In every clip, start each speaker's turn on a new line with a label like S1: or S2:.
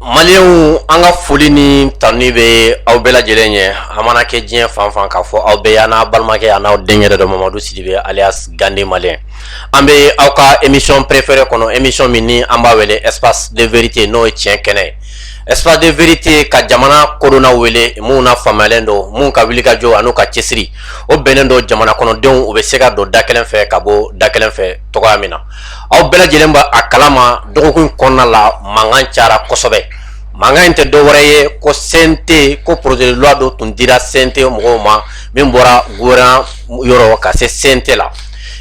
S1: Malienw an ka foli ni tanuni bɛ aw bɛɛ lajɛlen ye a mana kɛ diɲɛ fan fan k'a fɔ aw bɛ yen aw balimakɛ an'aw denkɛ yɛrɛ don Mamadu Sidibe alias Gandhi Malien an bɛ aw ka émission préférée kɔnɔ émission min ni an b'a wele espace de vérité n'o ye tiɲɛ kɛnɛ ye espace de vérité ka jamana kodɔnnaw wele minnu na faamuyalen don minnu ka wulikajɔ an'u ka cɛsiri o bɛnnen don jamana kɔnɔdenw u bɛ se ka don da kelen fɛ ka bɔ da kelen fɛ cogoya min na aw bɛɛ lajɛlen b'a kalama dɔgɔkun kɔnɔna la mankan cayara kosɛbɛ mankan in tɛ dɔ wɛrɛ ye ko CNT ko projet de loi dɔ tun dira CNT mɔgɔw ma min bɔra gouvernement yɔrɔ ka se CNT la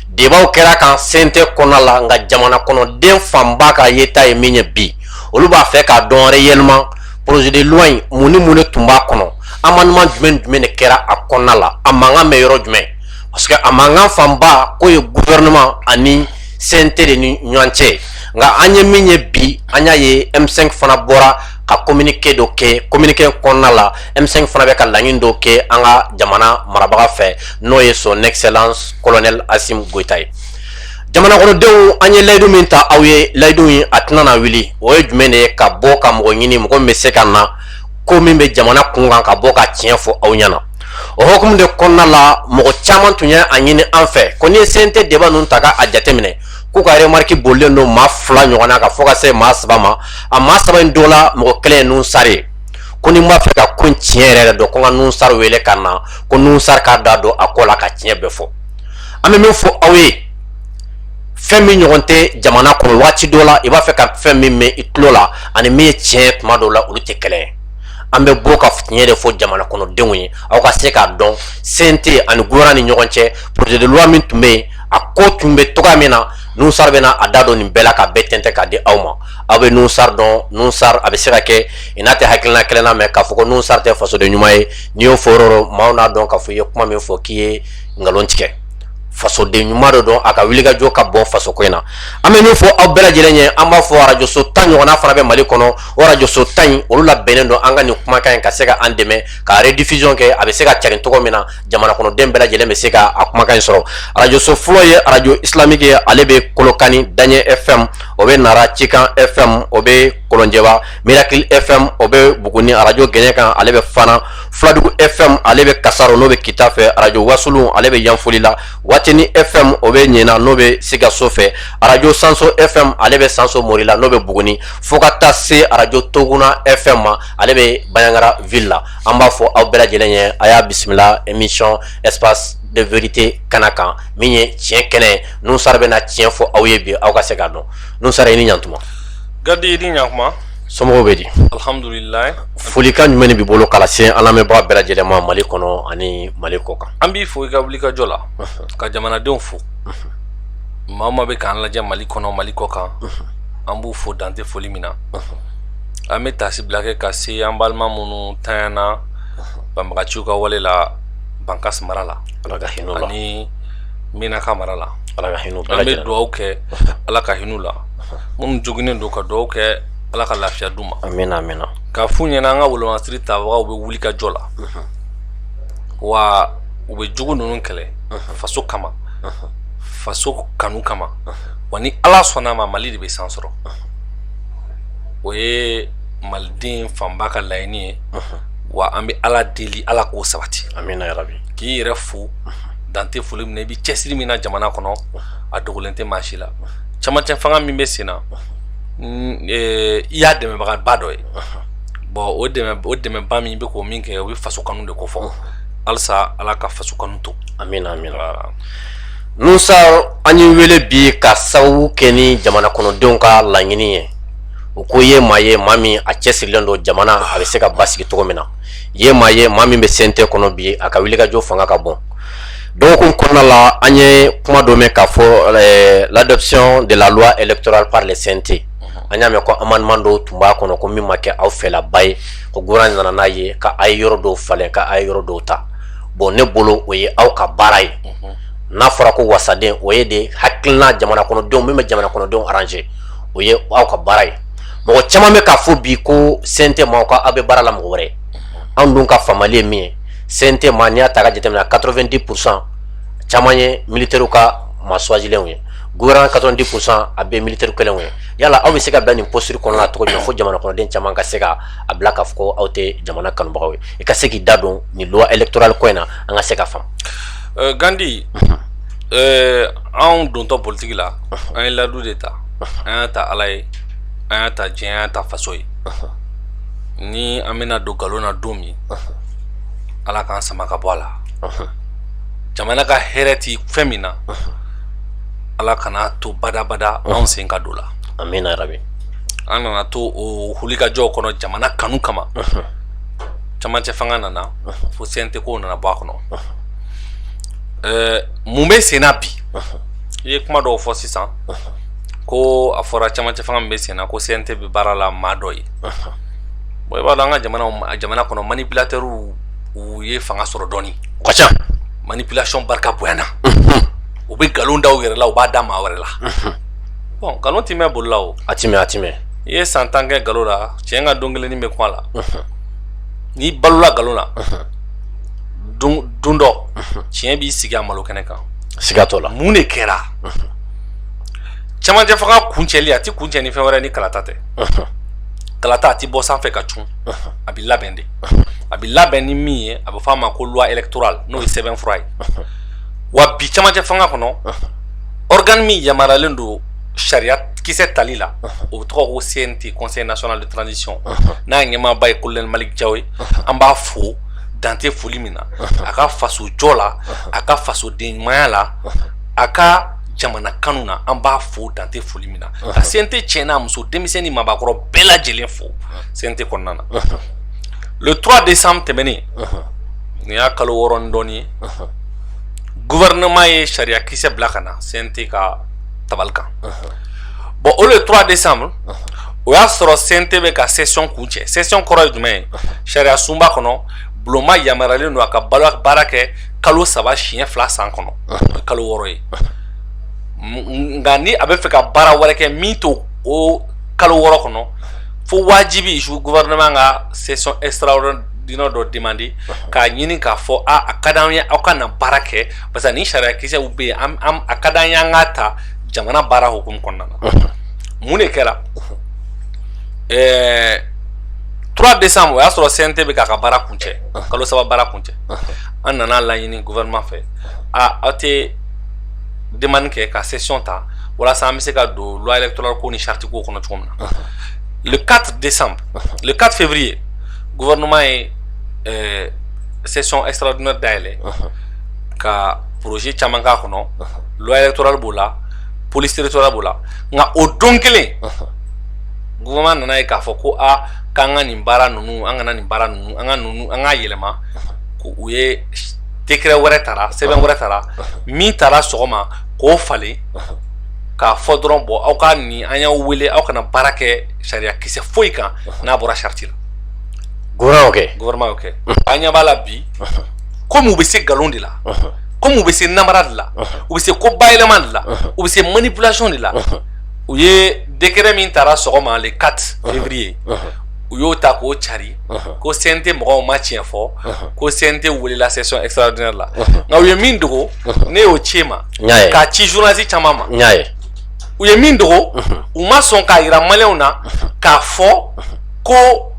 S1: débat kɛra a kan CNT kɔnɔna la nka jamana kɔnɔden fanba ka yeta ye min ye bi olu b'a fɛ k'a dɔn réellement projet de loi in mun ni mun de tun b'a kɔnɔ amendement jumɛn jumɛn de kɛra a kɔnɔna la a mankan bɛ yɔrɔ jumɛn parce que a mankan fanba k'o ye gouvernement ani CNT de ni ɲɔgɔn cɛ nka an ye min ye bi an y'a ye M5 fana bɔra ka kominike dɔ kɛ kominike kɔnɔna la M5 fana bɛ ka laɲini dɔ kɛ an ka jamana marabaga fɛ n'o ye son excellence colonel Assimi Goïta ye jamanakɔnɔdenw an ye layidu min ta aw ye layidu in a tɛna na wuli o ye jumɛn de ye ka bɔ ka mɔgɔ ɲini mɔgɔ min bɛ se ka na ko min bɛ jamana kun kan ka bɔ ka tiɲɛ fɔ aw ɲɛna o hukumu de kɔnɔna la mɔgɔ caman tun ye a ɲini an fɛ ko n'i ye CNT débat ninnu ta ka a jateminɛ k'u ka remarque bolilen don maa fila ɲɔgɔn na ka fo ka se maa saba ma a maa saba in dɔ la mɔgɔ kelen ye Nuhun Sar ye ko ni n b'a fɛ ka ko in tiɲɛ yɛrɛ yɛrɛ dɔn ko n ka Nuhun Sar wele ka na ko Nuhun Sar k'a da don a ko la ka tiɲɛ bɛɛ fɔ an bɛ min fɔ aw ye fɛn min ɲɔgɔn tɛ jamana kɔnɔ waati dɔ la i b'a fɛ ka fɛn min mɛn i tulo la ani min ye tiɲɛ ye tuma dɔw la olu tɛ kelen ye an bɛ bɔ ka tiɲɛ de fɔ jamana kɔnɔdenw ye aw ka se k'a dɔn CNT ani gouvernement ni ɲɔgɔn cɛ projet de loi min tun bɛ yen a ko tun bɛ cogoya min na Nuhun Sar bɛna a da don nin bɛɛ la k'a bɛɛ tɛntɛn k'a di aw ma aw bɛ Nuhun Sar dɔn Nuhun Sar a bɛ se ka kɛ i n'a tɛ hakilina kelen na mais k'a fɔ ko Nuhun Sar tɛ fasoden ɲuman ye n'i y'o fɔ dɔrɔn maaw n'a dɔn k'a fɔ i ye kuma min fɔ k'i ye nkalon tigɛ fasoden ɲuman dɔ don a ka wulikajɔ ka bon fasoko in na an bɛ min fɔ aw bɛɛ lajɛlen ye an b'a fɔ arajoso tan ɲɔgɔnna fana bɛ mali kɔnɔ o arajoso tan in olu labɛnnen don an ka nin kumakan in ka se ka an dɛmɛ ka rediffusion kɛ a bɛ se ka carin cogo min na jamana kɔnɔden bɛɛ lajɛlen bɛ se ka a kumakan in sɔrɔ arajoso fɔlɔ ye arajo islamiki ye ale bɛ kolokani daɲɛ fm o bɛ nara cikan fm o bɛ kolonjɛba mirakili fm o bɛ buguni arajo gɛɲɛkan ale bɛ fana fuladugu fm ale bɛ kasaro n'o bɛ kita fɛ arajo wasulu ale bɛ yanfolila watini fm o bɛ ɲɛna n'o bɛ sikaso fɛ arajo sanso fm ale bɛ sanso morila n'o bɛ buguni fo ka taa se arajo toguna fm ma ale bɛ baɲagara ville la an b'a fɔ aw bɛɛ lajɛlen ye a y'a bisimila émission espace de vérité kana kan min ye tiɲɛ kɛnɛ ye nuhun sar bɛna tiɲɛ fɔ aw ye bi aw ka se k'a dɔn nuhun sar i ni ɲantuma gadi i ni
S2: ɲantuma somɔgɔw bɛ di
S1: alhamdulilayi
S2: folikan jumɛn
S1: de b'i bolo k'a lase an lamɛnbaga bɛɛ lajɛlen ma mali kɔnɔ ani mali kɔ kan an b'i fo i ka
S2: wulikajɔ la ka jamanadenw fo maa o maa bɛ k'an lajɛ mali kɔnɔ mali kɔ kan an b'u fo dan tɛ foli min na an bɛ taasibila kɛ ka se an balima minnu tanyana banbagaciw ka wale la bankasi mara la ala ka hinɛ la ani menaka mara la ala ka hinɛ an bɛ dugawu kɛ ala ka hin'u la minnu joginnen don ka dugawu kɛ ala ka lafiya d'u ma amina amina ka
S1: f'u ɲɛna an
S2: ka wolomasiri tabagaw bɛ wulikajɔ la wa u bɛ jugu ninnu kɛlɛ faso kama faso kanu kama wa ni ala sɔnna a ma mali de bɛ san sɔrɔ o ye maliden fanba ka laɲini ye wa an bɛ ala deli ala k'o sabati k'i
S1: yɛrɛ fo
S2: dan tɛ foli min na i bɛ cɛsiri min na jamana kɔnɔ a dogolen tɛ maa si la camancɛ fanga min bɛ sen na e, i y'a dɛmɛbagaba dɔ ye bon o dɛmɛba min i bɛ ka min kɛ o bɛ faso kanu de kofɔ halisa ala ka faso kanu to
S1: nuhun sar an y'i wele bi ka sababu kɛ ni jamana kɔnɔdenw ka laɲini ye u ko ye maa ye maa min a cɛsirilen don jamana a bɛ se ka basigi cogo min na ye maa ye maa min bɛ CNT kɔnɔ bi a ka wulikajɔ fanga ka bon dɔgɔkun kɔnɔna la an ye kuma dɔ mɛn k'a fɔ eh, l'adoption de la loi électorale par le CNT an y'a mɛn ko amendement dɔw tun b'a kɔnɔ ko min ma kɛ aw fɛlaba ye ko gouvernement nana n'a ye ka a ye yɔrɔ dɔw falen ka a ye yɔrɔ dɔw ta bon ne bolo o ye aw ka baara ye n'a fɔra ko wasaden o ye de hakilina jamana kɔnɔdenw min bɛ jamana kɔnɔdenw arranger o ye aw ka baara ye mɔgɔ caman bɛ k'a fɔ bi ko CNT ma ko aw bɛ baara la mɔgɔ wɛrɛ anw dun ka faamali ye min ye CNT ma n'i y'a ta ka jateminɛ 90 pour cent caman ye militaires ka maa choisilenw ye gouvernement 90 pour cent a bɛɛ militaires kelenw ye yala aw bɛ se ka bila nin posture kɔnɔna na cogo jumɛn fo jamana kɔnɔden caman ka se ka a bila k'a fɔ ko aw tɛ jamana kanubagaw ye i ka se k'i da don nin loi électorale ko in na an ka se ka faamu. Euh, Gandi,
S2: mhm. euh, anw dontɔ politiki la mhm. an ye ladu de ta mhm. an y'a ta ala ye an y'a ta diɲɛ an y'a ta faso ye ni an bɛna don nkalon na don min ala k'an sama ka bɔ a la jamana ka hɛrɛ ti fɛn min na ala kana to badabada anw sen ka don la amina rabi
S1: an nana to
S2: o wulikajɔw kɔnɔ jamana kanu kama camancɛ fanga nana fo CNT ko nana bɔ a kɔnɔ mun bɛ senna bi i ye kuma dɔw fɔ sisan ko a fɔra camancɛ fanga min bɛ senna ko CNT bɛ baara la maa dɔ ye bon i b'a dɔn an ka jamana kɔnɔ manipulateurs u ye fanga sɔrɔ dɔɔni o ka
S1: ca manipulation
S2: barika bonyana u bɛ nkalon da u yɛrɛ la u b'a da maa wɛrɛ la bon nkalon ti mɛn boli la o a ti mɛn a ti
S1: mɛn i ye san tan kɛ
S2: nkalon la tiɲɛ ka don kelennin bɛ kuma la n'i balola nkalon na don dɔ tiɲɛ b'i sigi a malo kɛnɛ kan siga t'o la mun
S1: de kɛra
S2: cɛmancɛ fanga kuncɛli a ti kuncɛ ni fɛn wɛrɛ ni kalata tɛ kalata a ti bɔ sanfɛ ka cun a bɛ labɛn de a bɛ labɛn ni min ye a bɛ fɔ a ma ko loi électorale n'o ye sɛbɛnfura ye wa bi cɛmancɛ fanga kɔnɔ organe min yamaruyalen don sariya kisɛ tali la o tɔgɔ ko CNT Conseil national de transition n'a ɲɛmaaba ye colonel Malick Diaw ye an b'a fo dante foli min na a ka faso jɔ la a ka fasoden ɲumanya la a ka jamana kanu na an b'a fo dante foli min na ka CNT cɛ n'a muso denmisɛnnin maabakɔrɔ bɛɛ lajɛlen fo CNT kɔnɔna na le 3 décembre tɛmɛnen nin y'a kalo wɔɔrɔ ni dɔɔnin ye gouvernement ye sariya kisɛ bila ka na CNT ka tabali kan bon o le 3 décembre o y'a sɔrɔ CNT bɛ ka session kuncɛ session kɔrɔ ye jumɛn ye sariyasunba kɔnɔ bulonma yamaruyalen don a ka baara kɛ kalo saba siɲɛ fila san kɔnɔ kalo wɔɔrɔ ye nka ni a bɛ fɛ ka baara wɛrɛ kɛ min t'o kalo wɔɔrɔ kɔnɔ fo wajibi su gouvernement ka session extraordinaire dɔ demander k'a ɲini k'a fɔ a a ka d'an ye aw ka na baara kɛ parce que ni sariya kisɛw bɛ yen an an a ka d'an ye an k'a ta jamana baara hukumu kɔnɔna na mun de kɛra ɛɛ 3 décembre o y'a sɔrɔ CNT bɛ k'a ka baara kuncɛ kalo saba baara kuncɛ an nana laɲini gouvernement fɛ a aw tɛ demande kɛ ka session ta walasa an bɛ se ka don loi électorale ko ni charte ko kɔnɔ cogo min na le 4 décembre le 4 février gouvernement ye ɛɛ session extraordinaire dayɛlɛ. ka projet caman k'a kɔnɔ loi électorale b'o la police territoriale b'o la nka o don kelen gouvernement nana ye k'a fɔ ko aa k'an ka nin baara ninnu an kana nin baara ninnu an ka yɛlɛma ko u ye décret wɛrɛ tara sɛbɛn wɛrɛ tara min tara sɔgɔma k'o falen k'a fɔ dɔrɔn bon aw ka nin an y'aw wele aw kana baara kɛ sariya kisɛ foyi kan n'a bɔra charte la gouvernement y'o kɛ an ɲɛ b'a la bi kɔmi u bɛ se nkalon de la kɔmi u bɛ se namara de la u bɛ se ko bayɛlɛma de la u bɛ se manipulation de la u ye décret min tara sɔgɔma le 4 février u y'o ta k'o cari ko CNT mɔgɔw ma tiɲɛ fɔ ko CNT welela session extraordinaire la nka u ye min dogo ne y'o ci e ma k'a ci journaliste caman ma u ye min dogo u ma sɔn k'a yira maliyɛnw na k'a fɔ ko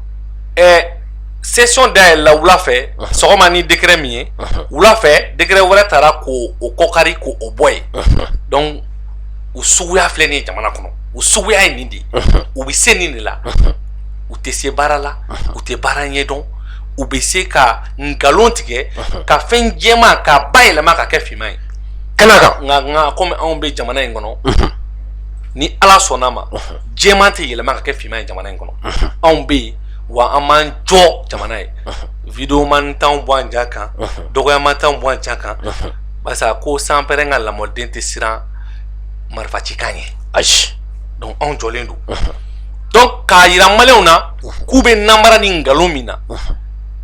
S2: session dayɛlɛla wula fɛ sɔgɔma ni décret min ye wula fɛ décret wɛrɛ tara k'o kɔkari k'o bɔ yen donc u suguya filɛ nin ye jamana kɔnɔ u suguya ye nin de ye u bɛ se nin de la u tɛ se baara la u tɛ baara ɲɛ dɔn u bɛ se ka nkalon tigɛ ka fɛn jɛman k'a bayɛlɛma ka kɛ finman ye kɛnɛ kan
S1: nka nka kɔmi anw bɛ
S2: jamana in kɔnɔ ni ala sɔnna ma jɛman tɛ yɛlɛma ka kɛ finman ye jamana in kɔnɔ anw bɛ yen wa an b'an jɔ jamana ye video man t'anw bɔ an ja kan dɔgɔya man t'anw bɔ an ja kan barisa ko sanpɛrɛn ka lamɔden tɛ siran marifacikan ɲɛ ayi
S1: donc anw jɔlen
S2: don donc k'a yira maliyɛnw na k'u bɛ namara ni nkalon min na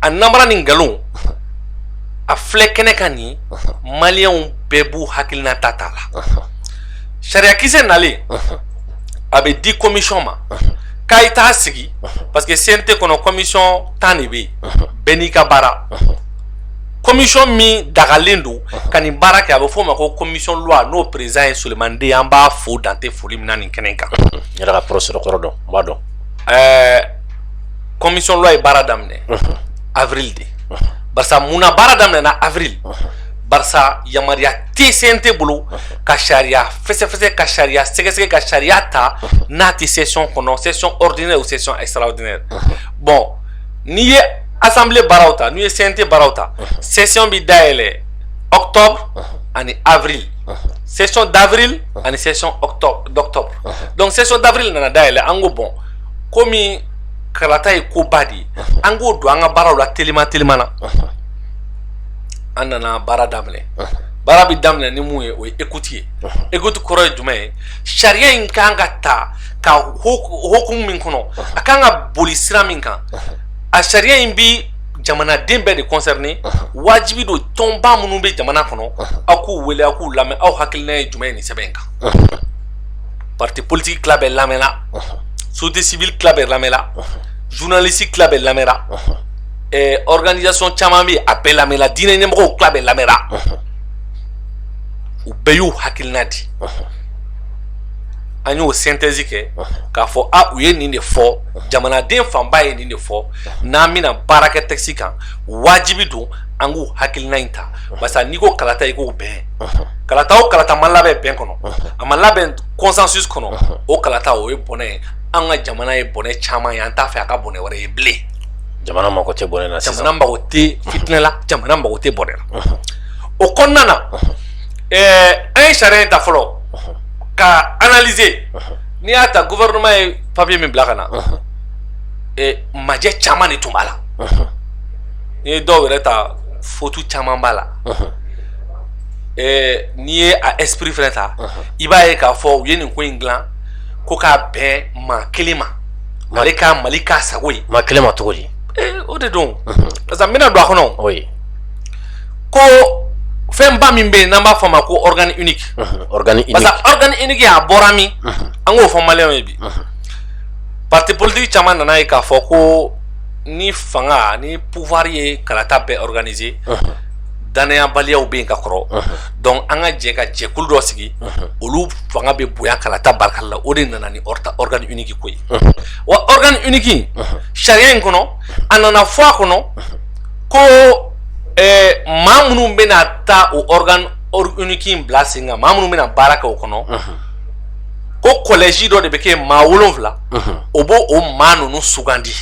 S2: a namara ni nkalon a filɛ kɛnɛ kan nin maliyɛnw bɛɛ b'u hakilinata ta la sariyakisɛ nalen a bɛ di commission ma k'a ye taa sigi parce que CNT kɔnɔ commission tan de bɛ yen bɛɛ n'i ka baara commission min dagalen don ka nin baara kɛ a bɛ f'o ma ko commission loi n'o président ye Sulemani De ye an b'a fo dan tɛ foli min na nin kɛnɛ in kan. N yɛrɛ ka professeur
S1: kɔrɔ don n b'a dɔn.
S2: Ɛɛ commission loi ye baara daminɛ avril de barisa mun na baara daminɛna avril. barisa yamaruya tɛ CNT bolo ka sariya fɛsɛfɛsɛ ka sariya sɛgɛsɛgɛ ka sariya ta n'a tɛ session kɔnɔ session ordinaire ou session extraordinaire bon n'i ye assemblée baaraw ta n'i ye CNT baaraw ta session bɛ dayɛlɛ octobre ani avril session d'avril ani session d'octobre donc session d'avril nana dayɛlɛ an ko bon komi kalata ye koba de ye an k'o don an ka baaraw la teliman teliman na an nana baara daminɛ baara bɛ daminɛ ni mun ye o ye écoute ye écoute kɔrɔ ye jumɛn ye sariya in ka kan ka ta ka hukumu min kɔnɔ a ka kan ka boli sira min kan a sariya in bɛ jamanaden bɛɛ de concerné wajibi don tɔnba minnu bɛ jamana kɔnɔ aw k'u wele aw k'u lamɛn aw hakilina ye jumɛn ye nin sɛbɛn in kan parti politique tila bɛɛ lamɛnna société civile tila bɛɛ lamɛnna journaliste tila bɛɛ lamɛnna organisation caman bɛ a bɛɛ lamɛnna diinɛ ɲɛmɔgɔw tila bɛɛ lamɛnna u bɛɛ y'u hakilina di an y'o synthèse kɛ k'a fɔ a u ye nin de fɔ jamanaden fanba ye nin de fɔ n'an bɛna baara kɛ texte kan wajibi don an k'u hakilina in ta parce que n'i ko kalata i ko bɛn kalata o kalata ma labɛn bɛn kɔnɔ a ma labɛn consensus kɔnɔ o kalata o ye bɔnɛ ye an ka jamana ye bɔnɛ caman ye an t'a fɛ a ka bɔnɛ wɛrɛ ye bilen jamana mako
S1: tɛ bɔnɛ na sisan jamana mako tɛ
S2: fitinɛ la jamana mako tɛ bɔnɛ na o kɔnɔna na ɛɛ an ye sariya in ta fɔlɔ k'a analyser n'i y'a ta gouvernement ye papier min bila ka na ɛɛ majɛ caman de tun b'a la n'i ye dɔw yɛrɛ ta faute caman b'a la ɛɛ n'i ye a esprit fɛnɛ ta i b'a ye k'a fɔ u ye nin ko in dilan ko k'a bɛn maa kelen ma. mali ka mali k'a sago ye maa kelen ma cogo
S1: di eh, o de don
S2: mhm. parce que n bɛna don a kɔnɔ o ye ko fɛnba min bɛ yen n'an b'a fɔ a ma ko organe unique mhm, organe unique
S1: parce que organe unique
S2: a bɔra min mhm. an k'o fɔ maliyɛnw ye bi parti politique caman nana ye k'a fɔ ko ni fanga ni pouvoir ye kalata bɛɛ organiser danayabaliyaw bɛ yen ka kɔrɔ donc an ka jɛ ka jɛkulu dɔ sigi olu fanga bɛ bonya kalata baarakɛli la o de nana ni organe unique ko ye wa organe unique sariya in kɔnɔ a nana fɔ a kɔnɔ ko maa minnu bɛna taa o organe unique in bila sen kan maa minnu bɛna baara kɛ o kɔnɔ ko collège dɔ de bɛ kɛ maa wolonwula o b'o maa ninnu sugandi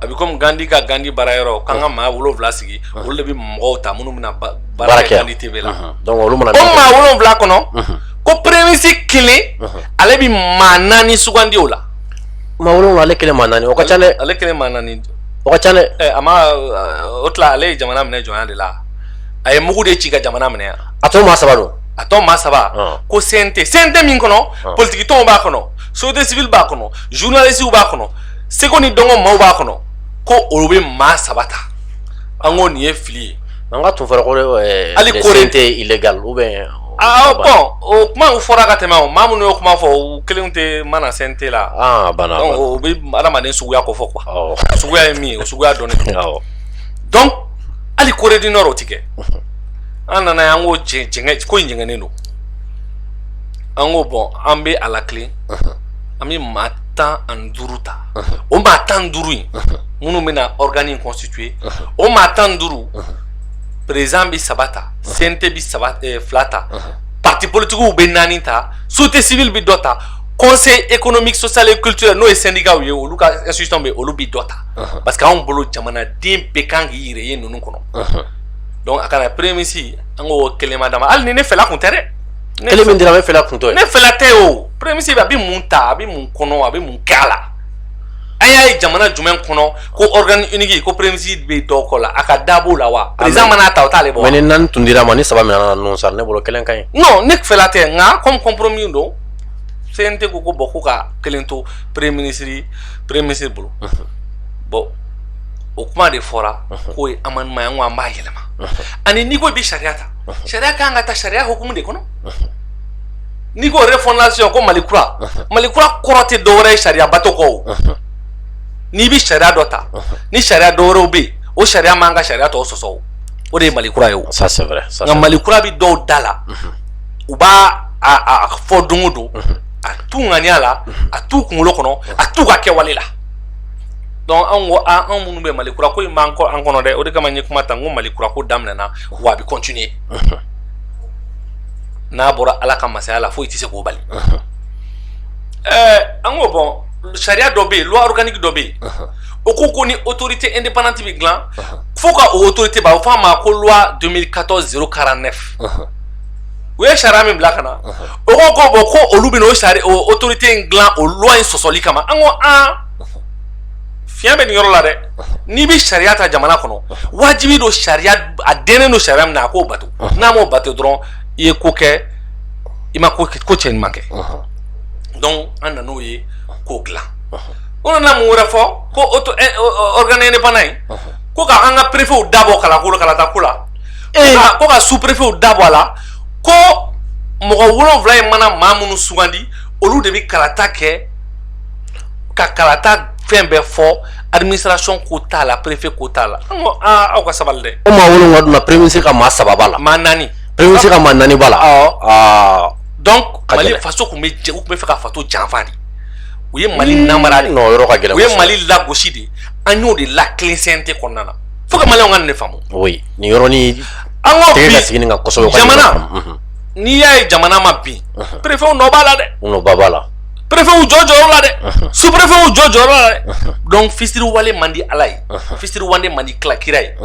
S2: a bɛ komi gandi ka gandi baara yɔrɔ k'an ka maa wolonwula sigi olu de bɛ mɔgɔw ta minnu bɛna baara kɛ gandi TV la olu mana o
S1: maa wolonwula kɔnɔ
S2: ko premier ministre kelen ale bɛ maa naani sugandi o la maa wolonwula ale
S1: kelen maa naani o ka ca dɛ ale kelen maa
S2: naani o ka ca dɛ
S1: ɛ a
S2: ma o tila ale ye jamana minɛ jɔnya de la a ye mugu de ci ka jamana minɛ yan a tɔ maa saba dun
S1: a tɔ maa saba
S2: ko CNT CNT min kɔnɔ politiki tɔnw b'a kɔnɔ société civile b'a kɔnɔ journalistes b'a kɔnɔ seko ni dɔnko maaw b'a kɔnɔ ko olu bɛ maa saba ta an ko nin ye fili ye an ka tun fɔra
S1: ko ɛɛ Hali kore-
S2: lesbienne tɛ illegal ou
S1: bien aa bon
S2: o kuma u fɔra ka tɛmɛ o maa minnu y'o kuma fɔ u kelenw tɛ mana CNT la ah a banna a donc banna o bɛ adamaden suguya kofɔ quoi awɔ o suguya ye min ye o suguya dɔnnen don awɔ donc hali Corée du Nord o tɛ kɛ an nan'a ye an ko jɛ- jɛngɛ ko in jɛngɛnen don an ko bon an bɛ a latilen an bɛ maa tan ani duuru ta o maa tan duuru in minnu bɛna organe in constituer o maa tan duuru président bɛ saba ta CNT bɛ saba eh, fila ta parti politiques bɛ naani ta société civile bɛ dɔ ta conseil économique social et culturel n'o ye syndicat ye olu ka institution bɛ olu bɛ dɔ ta parce que anw bolo jamanaden bɛɛ kan k'i yɛrɛ ye ninnu kɔnɔ donc a kana premier ministre an ko kelen ma d'a ma hali ni ne fɛla kun tɛ dɛ kelen min dira
S1: ne fɛla kun t'o ye ne fɛla tɛ
S2: o premier ministre a bɛ mun ta a bɛ mun kɔnɔ a bɛ mun kɛ a la an y'a ye jamana jumɛn kɔnɔ ko organe unique ko premier ministre bɛ dɔ k'o la a ka da b'o la wa président mana ta o t'ale bɔ wa. mais ni naani tun dir'a ma
S1: ni
S2: saba
S1: minɛna ninnu sara ne bolo kelen ka ɲi. non ne fɛla tɛ
S2: nka comme compromis don CNT ko ko bon ko ka kelen to premier ministre premier ministre bolo bon o kuma de fɔra k'o ye amendement ye an ko an b'a yɛlɛma ani n'i ko i bɛ sariya ta. sariya kan ka ta sariya hukumu de kɔnɔ n'i ko refondation ko mali kura mali kura kɔrɔ tɛ dɔwɛrɛ ye sariya bato kɔ o n'i bɛ sariya dɔ ta ni sariya dɔwɛrɛw bɛ yen o sariya man ka sariya tɔw sɔsɔ o o de ye mali kura ye o nka mali
S1: kura bɛ dɔw
S2: da la u b'a a fɔ don o don a t'u ŋaniya la a t'u kunkolo kɔnɔ a t'u ka kɛwale la donc anw ko anw minnu bɛ mali kura ko in b'an kɔ an kɔnɔ dɛ o de kama n ye kuma ta n ko mali kura ko daminɛna wa a bɛ continuer n'a bɔra ala ka masaya la foyi tɛ se k'o bali ɛɛ an ko bon sariya dɔ bɛ yen loi organique dɔ bɛ yen o ko ko ni autorité indépendante bɛ dilan fo ka o autorité ba o f'a ma ko loi 2014 049 u ye sariya min bila ka na o ko ko bon ko olu bɛn'o sari o autorité in dilan o loi in sɔsɔli kama an ko an fiɲɛ bɛ nin yɔrɔ la dɛ n'i bɛ sariya ta jamana kɔnɔ wajibi don sariya a dɛnnen don sariya min na a k'o bato n'a m'o bato dɔrɔn i ye ko kɛ i ma ko cɛ ɲuman kɛ donc an nan'o ye k'o dilan o nana mun wɛrɛ fɔ ko auto eh, organe indépendant in ko ka an ka préfetw dabɔ kalanko la kalata ko la eh. ko ka sous préfetw dabɔ a la ko mɔgɔ wolonwula in mana maa minnu sugandi olu de bɛ kalata kɛ ka kalata fɛn bɛɛ fɔ administration ko t'a la préfet ko t'a la an ko aa aw ka sabali dɛ o maa wolonwula dun na premier
S1: ministre ka maa saba b'a la maa naani premier
S2: ministre ka maa naani
S1: b'a la awɔ aa donc Ka mali
S2: gɛlɛn. faso tun bɛ jɛ u tun bɛ fɛ ka faso janfa de u ye mali namara de non yɔrɔ ka gɛlɛn u ye kosɛbɛ.
S1: mali lagosi
S2: de an y'o de lakɛlɛ CNT kɔnɔna na fo ka maliyɛnw ka nin de faamu oui nin yɔrɔnin
S1: an ko tɛgɛ ka
S2: sigi bi nin kan kosɛbɛ u ka nin
S1: jamana yɔrɔ faamu. Mhm.
S2: n'i y'a ye jamana ma bin préfetw nɔ b'a la dɛ u nɔ ba b'a la
S1: préfet y'u jɔ
S2: jɔyɔrɔ la dɛ sous préfet y'u jɔ jɔyɔrɔ la dɛ donc fisiriwale man di ala ye fisiriwale man di kira ye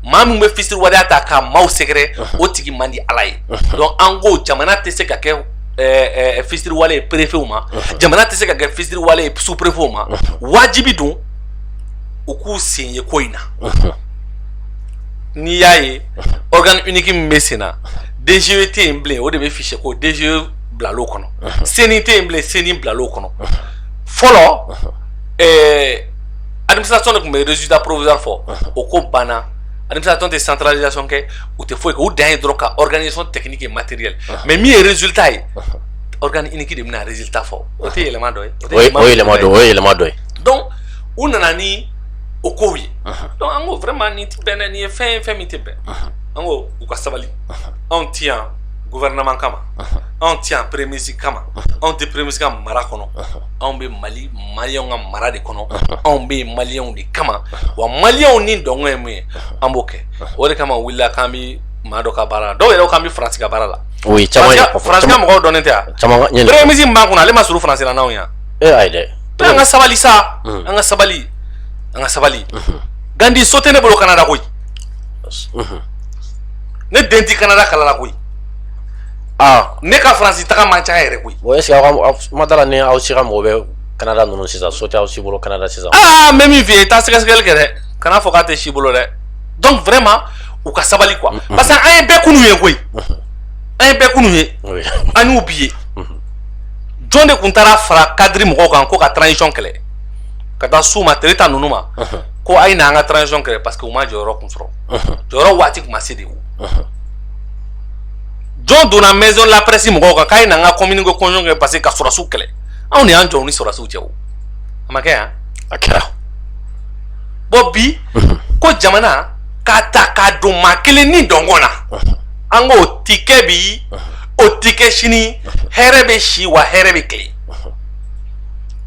S2: maa min bɛ fisiriwaleya ta ka maaw sɛgɛrɛ o tigi man di ala ye donc an ko jamana tɛ se ka kɛ ɛɛ fisiriwale ye préfetw ma jamana tɛ se ka kɛ fisiriwale ye sous préfetw ma wajibi don u k'u sen ye ko in na n'i y'a ye organe unique min bɛ sen na DGE tɛ yen bilen o de bɛ fichier ko DGE bila kɔnɔ sen tɛ yen bilen sen bila kɔnɔ fɔlɔ alimi sɔn de tun bɛ zda poroz fɔ o ko banna alimi sɔn tɛ santralisasɔn kɛ u tɛ foyi u dan ye dɔrɔn ka sɔn tɛini kɛ materi la mɛ min ye zta ye ki de bɛna zta fɔ o tɛ
S1: yɛlɛma dɔ ye dɔn u
S2: nana ni o kow ye dɔnku an ko fɛma ni bɛnna nin ye fɛn ye fɛn min tɛ bɛn an ko u ka sabali anw tɛ yan gouvernement kama anw tɛ yan premier ministre kama anw tɛ premier ministre ka mara kɔnɔ anw bɛ mali maliyɛnw ka mara de kɔnɔ anw bɛ yen maliyɛnw de kama wa maliyɛnw ni dɔngɔ ye mun ye an b'o kɛ o de kama wulila k'an bɛ maa dɔ ka baara la dɔw yɛrɛ k'an bɛ faransi ka baara la o ye caman
S1: ye faransi ka mɔgɔw dɔnnen tɛ
S2: yan caman ka premier ministre min b'an kunna ale ma surun faransi la n'anw yan e ayi
S1: dɛ an ka sabali sa
S2: an ka sabali an ka sabali gandi so tɛ ne bolo kanada koyi ne den tɛ kanada kalan na koyi aa ne ka faransi taga man ca yɛrɛ koyi bon est ce que aw ka
S1: kuma t'a la ni aw si ka mɔgɔ bɛ kanada ninnu sisan so tɛ aw si bolo kanada sisan aa n bɛ min f'i ye taa
S2: sɛgɛsɛgɛli kɛ dɛ kana fɔ k'a tɛ si bolo dɛ donc vraiment u ka sabali quoi parce que an ye bɛɛ kunu ye koyi an ye bɛɛ kunu ye Oui. an y'u bi ye jɔn de tun taara fara cadre mɔgɔw kan ko ka transition kɛlɛ ka taa s'u ma tereta ninnu ma ko a ye na an ka transition kɛlɛ parce que u ma jɔyɔrɔ kun sɔrɔ jɔyɔrɔ waati tun ma se de wo jɔn donna maison la presse mɔgɔw kan k'a ye na an ka communiqué conjoint kɛ parce que ka sɔrɔdasiw kɛlɛ anw de y'an jɔ ni sɔrɔdasiw cɛ o a ma kɛ yan a kɛra bon bi ko jamana k'a ta k'a don maa kelen ni dɔngɔ na an k'o ti kɛ bi o ti kɛ sini hɛrɛ bɛ si wa hɛrɛ bɛ kile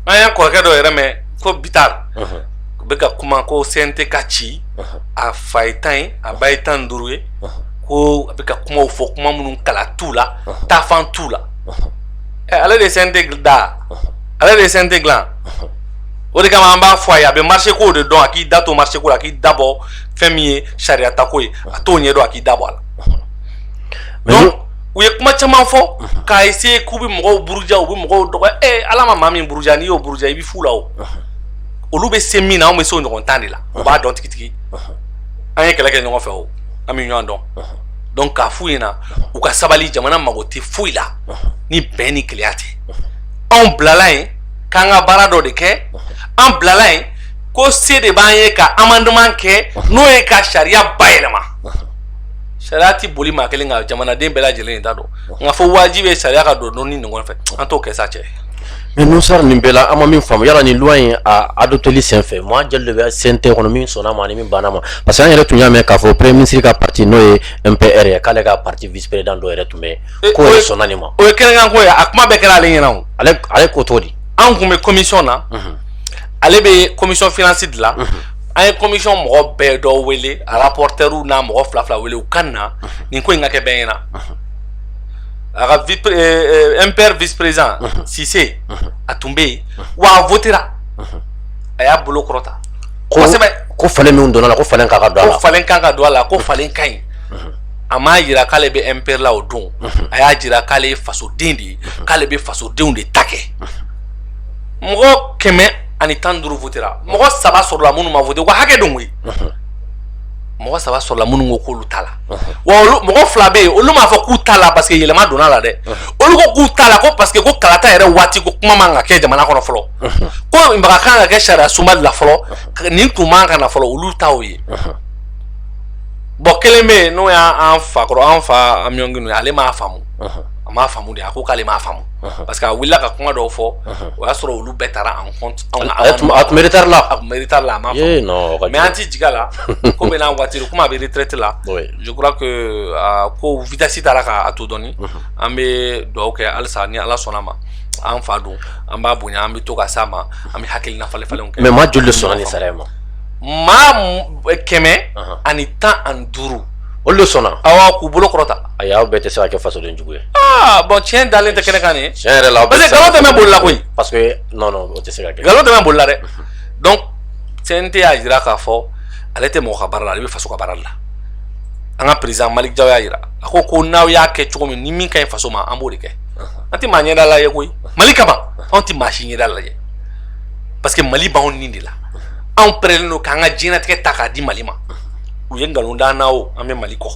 S2: an y'an kɔrɔkɛ dɔ yɛrɛ mɛn ko bitar u bɛ ka kuma ko cnt ka ci a fa ye tan ye a ba ye tan ni duuru ye ko a bɛ ka kumaw fɔ kuma minnu kala t'u la taafan t'u la ale de ye CNT da ale de ye CNT dilan o de kama an b'a fɔ a ye a bɛ marché ko de dɔn a k'i da to marché ko la a k'i da bɔ fɛn min ye sariya ta ko ye a t'o ɲɛdɔn a k'i da bɔ a la donc u ye kuma caman fɔ k'a essayer k'u bɛ mɔgɔw buruja u bɛ mɔgɔw dɔgɔya ee ala ma maa min buruja n'i y'o buruja i bɛ fu la o olu bɛ se min na anw bɛ se o ɲɔgɔn tan de la u b'a dɔn tigitigi an ye kɛlɛ kɛ ɲɔgɔn fɛ o an bɛ ɲɔgɔn dɔn donc k'a f'u ɲɛna u ka sabali jamana mago tɛ foyi la ni bɛn ni kelenya tɛ anw bilala yen k'an ka baara dɔ de kɛ an bilala yen ko se de b'an ye ka amendement kɛ n'o ye ka sariya bayɛlɛma sariya ti boli maa kelen kan jamanaden bɛɛ lajɛlen ta don nka fɔ wajibi ye sariya ka don don ni ɲɔgɔn fɛ an t'o kɛ sa cɛ Mais Nouhoum
S1: Sarr nin bɛɛ la an ma min faamu yala nin loi in a adopteli senfɛ maa joli de bɛ CNT kɔnɔ min sɔnna ma ani min banna ma parce que an yɛrɛ tun y'a mɛn k'a fɔ premier ministre ka parti n'o ye MPR ye k'ale ka parti vice président dɔ yɛrɛ tun bɛ yen k'o yɛrɛ sɔnna nin ma. o ye kɛnɛkan ko ye
S2: a kuma bɛɛ kɛra ale ɲɛna o. ale ale ko cogo
S1: di. an tun bɛ
S2: commission na. ale bɛ commission finance de la. an ye commission mɔgɔ bɛɛ dɔ wele a rapporteurs n'a mɔgɔ fila fila wele u ka na nin ko in ka kɛ bɛɛ ɲɛna. a ka vice euh, euh, MPR vice président Cissé a tun bɛ yen wa a votera a y'a bolo kɔrɔta kosɛbɛ ko falen min donna la
S1: ko falen kan ka don a la ko falen kan ka don a la ko
S2: falen ka ɲi a m'a jira k'ale bɛ MPR la o don a y'a jira k'ale ye fasoden de ye k'ale bɛ fasodenw de ta kɛ mɔgɔ kɛmɛ ani tan ni duuru votera mɔgɔ saba sɔrɔla minnu ma vote u ka hakɛ don koyi mɔgɔ saba sɔrɔla minnu ko k'olu t'a la wa mɔgɔ fila bɛ yen olu m'a fɔ k'u t'a la parce que yɛlɛma donna la dɛ olu ko k'u t'a la ko parce que ko kalata yɛrɛ waati ko kuma man ka kɛ jamana kɔnɔ fɔlɔ ko maga kan ka kɛ sariya sunba de la fɔlɔ nin tun man ka na fɔlɔ olu ta o ye bon kelen bɛ yen n'o y'an fa kɔrɔ an fa Amion Guindo ye ale m'a faamu a m'a faamu de a ko k'ale m'a faamu parce que a wulila ka kuma dɔw fɔ o y'a sɔrɔ olu bɛɛ taara en compte a tun bɛ
S1: retard la a tun bɛ retard la a
S2: m'a faamu mais an tɛ jigin a la ko bɛɛ n'a waati komi a bɛ retraite la je crois que ko vitesse taara k'a to dɔɔni an bɛ dugawu kɛ halisa ni ala sɔnna ma an fa don an b'a bonya an bɛ to ka s'a ma an bɛ hakilina falen falen kɛ mais maa joli de sɔnna
S1: nin sariya ma
S2: maa kɛmɛ ani tan ani duuru olu de sɔnna
S1: awɔ k'u bolo kɔrɔta
S2: ayi aw bɛɛ tɛ se ka kɛ
S1: fasodenjugu ye aa bon tiɲɛ
S2: dalen tɛ kɛnɛ kan nin tiɲɛ yɛrɛ la parce que nkalon tɛ
S1: mɛɛn boli la koyi
S2: parce que non non o
S1: tɛ se ka kɛ nkalon tɛmɛ bolila dɛ
S2: donc CNT y'a jira k'a fɔ ale tɛ mɔgɔ ka baara la ale bɛ faso ka baara la an ka président Malick Diaw y'a jira a ko ko n'aw y'a kɛ cogo min ni min ka ɲi faso ma an b'o de kɛ an tɛ maa ɲɛda lajɛ koyi Mali kama anw tɛ maa si ɲɛda lajɛ parce que Mali b'anw ni de la anw pɛrɛlen don k'an ka diɲɛnatigɛ ta k'a di Mali ma u ye nkalon d'an na o an bɛ Mali kɔ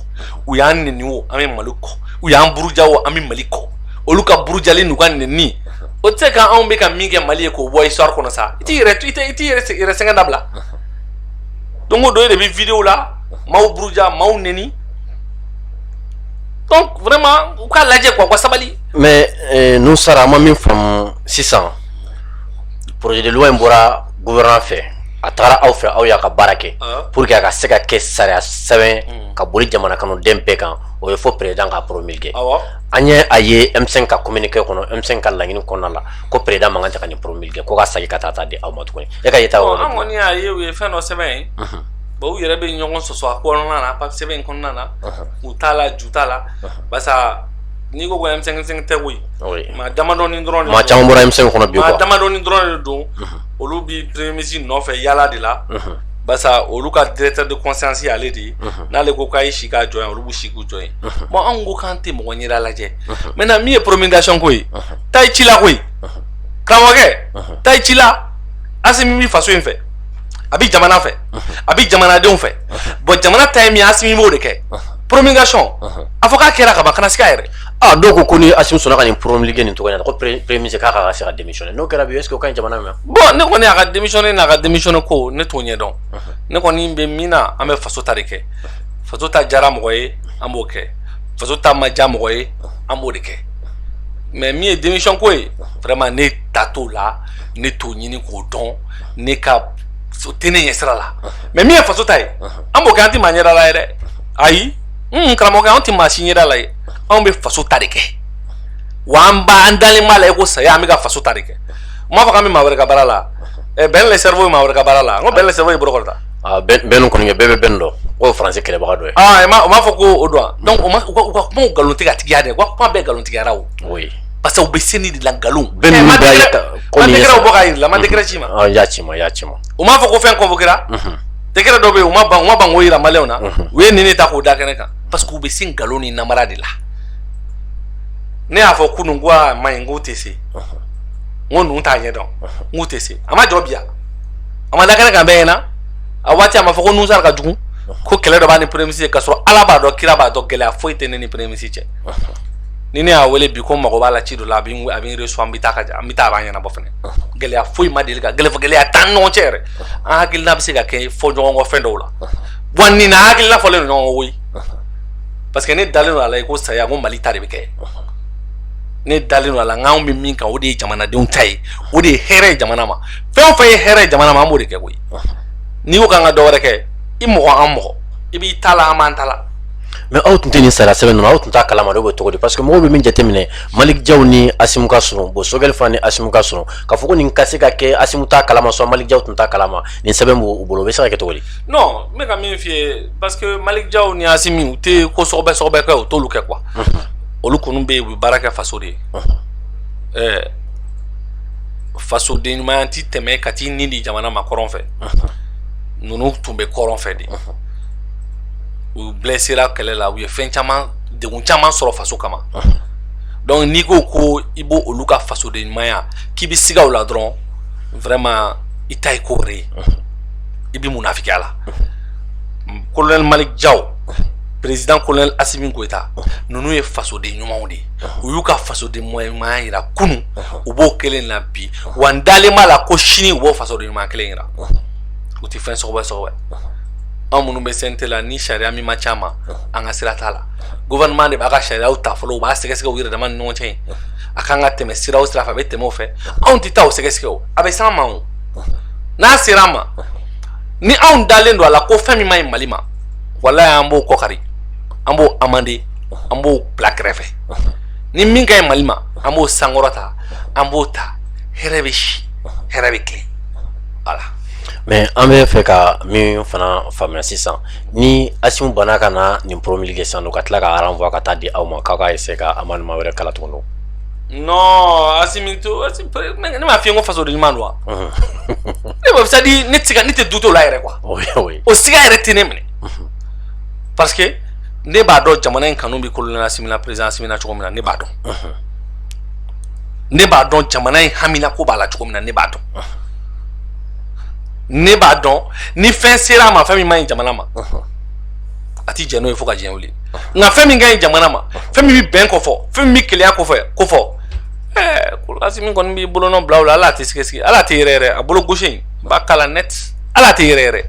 S2: u y'an neni o an bɛ Mali kɔ u y'an buruja o an bɛ Mali kɔ olu ka burujali n'u ka neni o tɛ se ka anw bɛ ka min kɛ mali ye k'o bɔ histoire kɔnɔ sa i t'i yɛrɛ i tɛ i t'i yɛrɛ yɛrɛ sɛgɛn dabila don o don e de bɛ vidéo la maaw buruja maaw neni donc vraiment u k'a lajɛ quoi u ka sabali. mais
S1: euh, Nouhoum Sarr an ma min faamu sisan projet de loi in bɔra gouvernement fɛ a tagara aw fɛ aw y'a ka baara kɛ ah. pour que a ka se ka kɛ sariya sɛbɛn hmm. ka boli jamana kɔnɔden bɛɛ kan o ye fo président k'a promulguer. an ye a ye M5 ka communiqué kɔnɔ M5 ka laɲini kɔnɔna la ko président man kan tɛ ka nin promulguer ko ka sagi ka taa taa di aw ma tuguni e ka yeta yɔrɔ an kɔni y'a ye u ye
S2: fɛn dɔ sɛbɛn ye bon u yɛrɛ bɛ ɲɔgɔn sɔsɔ a kɔnɔna na papier sɛbɛn in kɔnɔna na kun t'a la ju t'a la barisa n'i ko ko M5 tɛ koyi maa damadɔni dɔrɔn maa caman bɔra M5
S1: kɔnɔ
S2: bi
S1: maa damadɔni dɔrɔn
S2: de don olu bi premier ministre nɔfɛ yaala de la barisa olu ka directeur de conscience ale de ye n'ale ko k'a ye si k'a jɔ yan olu bɛ si jɔ yen bon anw ko k'an tɛ mɔgɔ ɲɛda lajɛ maintenant min ye promulgation ko ye taa i ci la koyi karamɔgɔkɛ taa i ci la asimi bi faso in fɛ a bi jamana fɛ a bi jamanadenw fɛ bon jamana ta ye min ye asimi b'o de kɛ promulgation a fɔ k'a kɛra ka ban kana sika yɛrɛ ah dɔw ko ko
S1: ni asimi sɔnna ka nin promulguer nin cogoya in na ko premier ministre k'a ka se ka démissionner n'o kɛra bi est-ce que o ka ɲi jamana ma bon ne kɔni a ka
S2: démissionner n'a ka démissionner ko ne t'o ɲɛdɔn ne kɔni bɛ min na an bɛ faso ta de kɛ faso ta diyara mɔgɔ ye an b'o kɛ faso ta ma diya mɔgɔ ye an b'o de kɛ mais min ye démission ko ye vraiment ne ta t'o la ne t'o ɲini k'o dɔn ne ka o tɛ ne ɲɛ sira la mais min ye faso ta ye an b'o kɛ an tɛ maa ɲɛda lajɛ dɛ ayi n karamɔgɔkɛ anw tɛ maa si ɲɛda lajɛ anw bɛ faso ta de kɛ wa an b'a an dalen b'a la i ko saya an bɛ ka faso ta de kɛ n m'a fɔ k'an bɛ maa wɛrɛ ka baara la Ben le cerveau ye maa wɛrɛ ka baara la n ko Ben le cerveau ye bolo kɔrɔta Ah, Ben
S1: kɔni bɛɛ bɛ Ben dɔn o faransi kɛlɛbaga dɔ ye ah, m'a fɔ ko
S2: o don donc u ka kuma nkalontigiya dɛ u ka kuma bɛɛ nkalontigiyara o parce que u bɛ se nin de la nkalon bɔ k'a yir'i la ma décret ci ma ah, y'a ci ma y'a ci ma
S1: u m'a fɔ ko fɛn
S2: convoquera mhm. décret dɔ bɛ yen u ma ban u ma ban k'o yira maliyɛnw na mhm. u ye nin de ta k'o da kɛnɛ kan parce que u bɛ se nkalon ni namara de la ne y'a fɔ kunun ko a ma ɲi k'u tɛ se mhm. n ko ninnu t'a ɲɛ dɔn n k'u tɛ se a ma jɔ bi yan a ma da kɛnɛ kan bɛɛ ɲɛna a waati a ma fɔ ko nouhoum sarr ka jugu ko kɛlɛ dɔ b'a ni premier ministre cɛ k'a sɔrɔ ala b'a dɔn kira b'a dɔn gɛlɛya foyi tɛ ne ni premier ministre cɛ ni ne y'a wele bi ko mago b'a la ci dɔ la a bɛ n a bɛ n reçu an bɛ taa ka ja an bɛ taa a b'a ɲɛnabɔ fɛnɛ gɛlɛya foyi ma deli ka gɛlɛya gɛlɛya t'an ni ɲɔgɔn cɛ yɛrɛ an hakilina bɛ se ka kɛ fɔ ɲɔgɔn kɔ fɛn dɔw la wa nin na an hakilina fɔlen don ɲɔgɔn kɔ koyi parce que ne dalen don a la i ko saya ko mali ta de bɛ kɛ ne dalen don a la n k'anw bɛ min kan o de ye jamanadenw ta ye o de ye hɛrɛ ye jamana ma fɛn o fɛn ye hɛrɛ ye jamana ma an b'o de kɛ koyi n'i ko k'an ka dɔ wɛrɛ kɛ i mɔgɔ an mɔgɔ i b'i ta la an b'an ta la mais aw tun tɛ
S1: nin sariya sɛbɛn ninnu aw tun t'a kalama de o bɛ cogo di parce que mɔgɔw bɛ min jateminɛ malick diaw ni assimi ka surun bon choguel fana ni assimi ka surun k'a fɔ ko nin ka se ka kɛ assimi t'a kalama soit malick diaw tun t'a kalama nin sɛbɛn b'u bolo o bɛ se ka kɛ cogo di. non n bɛ ka
S2: min f'i ye parce que malick diaw ni assimi u tɛ ko sɔgɔbɛ sɔgɔbɛ kɛ u t'olu kɛ quoi olu kɔni bɛ yen u bɛ baara kɛ faso de ye ɛɛ fasoden ɲumanya tɛ tɛmɛ ka t'i ni di jamana ma kɔrɔn fɛ ninnu tun bɛ kɔrɔn fɛ de u blessera kɛlɛ la u ye fɛn caman degun caman sɔrɔ faso kama donc n'i ko ko i b' olu ka fasoden ɲumanya k'i bɛ siga o la dɔrɔn vraiment i ta ye ko wɛrɛ ye i bɛ munafikiya la colonel malick diaw président colonel assimi goïta ninnu ye fasoden ɲumanw de ye u y'u ka fasoden ɲumanya jira kunu u b'o kelen na bi wa n dalen b'a la ko sini u b'o fasoden ɲumanya kelen jira u tɛ fɛn sɔgɔbɛ sɔgɔbɛ anw minnu bɛ cnt la ni sariya min ma s'an ma an ka sira t'a la gouvernement de b'a ka sariyaw ta fɔlɔ u b'a sɛgɛsɛgɛ u yɛrɛ dama ni ɲɔgɔn cɛ yen a kan ka tɛmɛ sira o sira fɛ a bɛ tɛmɛ o fɛ anw tɛ taa o sɛgɛsɛgɛ o a bɛ s'an ma o n'a sera an ma ni anw dalen don a la ko fɛn min man ɲi mali ma walayi an b'o kɔkari an b'o amender an b'o bila kɛrɛfɛ ni min ka ɲi mali ma an b'o sankɔrɔta an b'o ta hɛrɛ bɛ si hɛrɛ bɛ tilen voilà mais an
S1: bɛ fɛ ka min fana faamuya sisan ni assimi banna ka na nin promulguer sisan ka tila k'a renvoi ka taa di aw ma k'aw ka essayer ka amendement wɛrɛ k'a la tuguni
S2: non assimi to ne m'a f'i ye ko fasoden ɲuman don wa ne b'a c'est-à-dire ne tɛ ne tɛ doute o la yɛrɛ quoi o siga yɛrɛ tɛ ne minɛ parce que ne b'a dɔn jamana in kanu bɛ colonel assimi na président assimi na cogo min na ne b'a dɔn ne b'a dɔn jamana in hamina ko b'a la cogo min na ne b'a dɔn ne b'a dɔn ni fɛn sera a ma fɛn min man ɲi jamana ma a ti jɛn n'o ye fo ka diɲɛ wuli nka fɛn min ka ɲi jamana ma fɛn min bɛ bɛn kofɔ fɛn min bɛ kelenya kɔfɛ kofɔ ɛɛ colonel assimi kɔni b'i bolonɔ bila o la ale tɛ sigasiga ale tɛ yɛrɛ yɛrɛ a bolo gauche in b'a k'a la net ale tɛ yɛrɛ yɛrɛ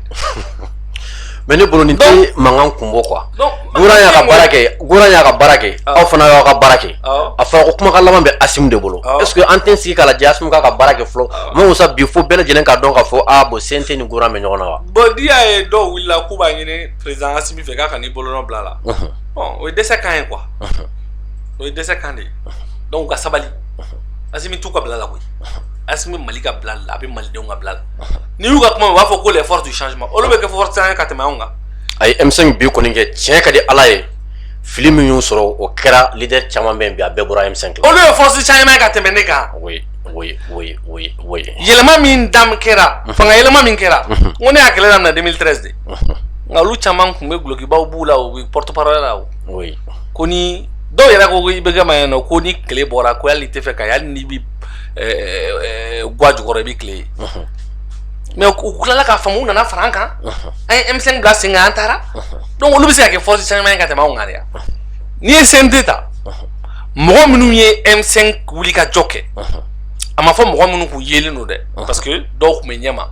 S1: Mais ne bolo nin tɛ mankan kun bɔ quoi y'a ka baara kɛ gouvernement y'a ka baara kɛ aw fana y'aw ka baara kɛ a fɔra ko kumakan laban bɛ Assimi de bolo est-ce que an tɛ sigi k'a lajɛ Assimi k'a ka baara kɛ fɔlɔ ma sa bi fo bɛɛ lajɛlen k'a dɔn k'a fɔ a bon CNT ni gouvernement bɛ ɲɔgɔn na wa bon n'i y'a ye
S2: dɔw wulila k'u b'a ɲini président Assimi fɛ k'a kan'i bolonɔ bila la o ye dɛsɛ kan ye quoi o ye dɛsɛ kan de ye donc u ka sabali Assimi t'u ka bila la koyi a bɛ mali ka bila la a bɛ malidenw ka bila la n'i y'u ka kuma u b'a fɔ ko les forces du changement olu bɛ kɛ force changement ye ka tɛmɛ anw kan a ye M5
S1: bi kɔni kɛ tiɲɛ ka di ala ye fili min y'u sɔrɔ o kɛra leader caman bɛ yen bi a bɛɛ bɔra M5 la olu ye force changement ye ka tɛmɛ
S2: ne kan oui
S1: oui oui oui oui
S2: yɛlɛma min dam kɛra fanga yɛlɛma min kɛra n ko ne y'a kɛlɛ daminɛ 2013 de nka olu caman tun bɛ dulokibaw b'u la u bɛ porte parole la o oui ko ni dɔw yɛrɛ ko ko IBK mayɛlɛ ko ni tile bɔra ko hali i t'a fɛ k'a ye hali n'i bɛ ga jukɔrɔ i bɛ tile ye mais u tilala k'a faamu u nana fara an kan an ye M5 bila sen kan an taara donc olu bɛ se ka kɛ force changement ye ka tɛmɛ anw kan yan n'i ye CNT ta mɔgɔ minnu ye M5 wuli ka jɔ kɛ a ma fɔ mɔgɔ minnu k'u yelen don dɛ parce que dɔw tun bɛ ɲɛma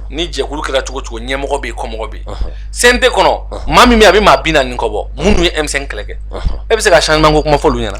S2: ni jɛkulu kɛra cogo cogo ɲɛmɔgɔ bɛ yen kɔmɔgɔ bɛ yen CNT kɔnɔ maa min bɛ yen a bɛ maa bi naani kɔ bɔ minnu ye M5 kɛlɛ kɛ e bɛ se ka changement kuma fɔ olu ɲɛna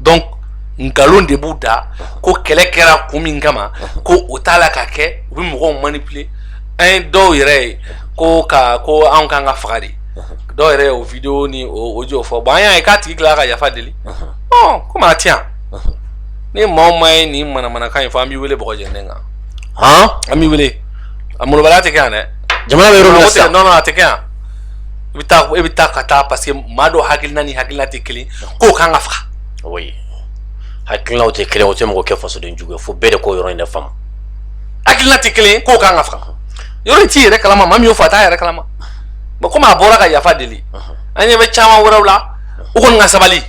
S2: donc nkalon de b'u da ko kɛlɛ kɛra kun min kama ko o t'a la ka kɛ u bɛ mɔgɔw manipuler an ye dɔw yɛrɛ ye ko ka ko anw kan ka faga de dɔw yɛrɛ y'o video ni o audio fɔ bon an y'a ye k'a tigi tilala ka yafa deli ɔ komi a tɛ yan ni maa o maa ye nin manamanakan in fɔ an b'i wele bɔgɔ jɛlen kan han an b'i wele a molobaliya tɛ kɛ yan dɛ jamana bɛ yɔrɔ min na sisan
S1: non non a tɛ kɛ yan
S2: i bɛ taa i bɛ taa ka taa parce que maa dɔ hakilina ni hakilina tɛ kelen k'o kan ka faga oui
S1: hakilinaw tɛ kelen o tɛ mɔgɔ kɛ fasoden jugu ye fo bɛɛ de k'o yɔrɔ in de faamu hakilina tɛ
S2: kelen k'o kan ka faga yɔrɔ in t'i yɛrɛ kalama maa min y'o fɔ a t'a yɛrɛ kalama mais komi a bɔra ka yafa deli an ɲɛ bɛ caman wɛrɛw la u kɔni ka sabali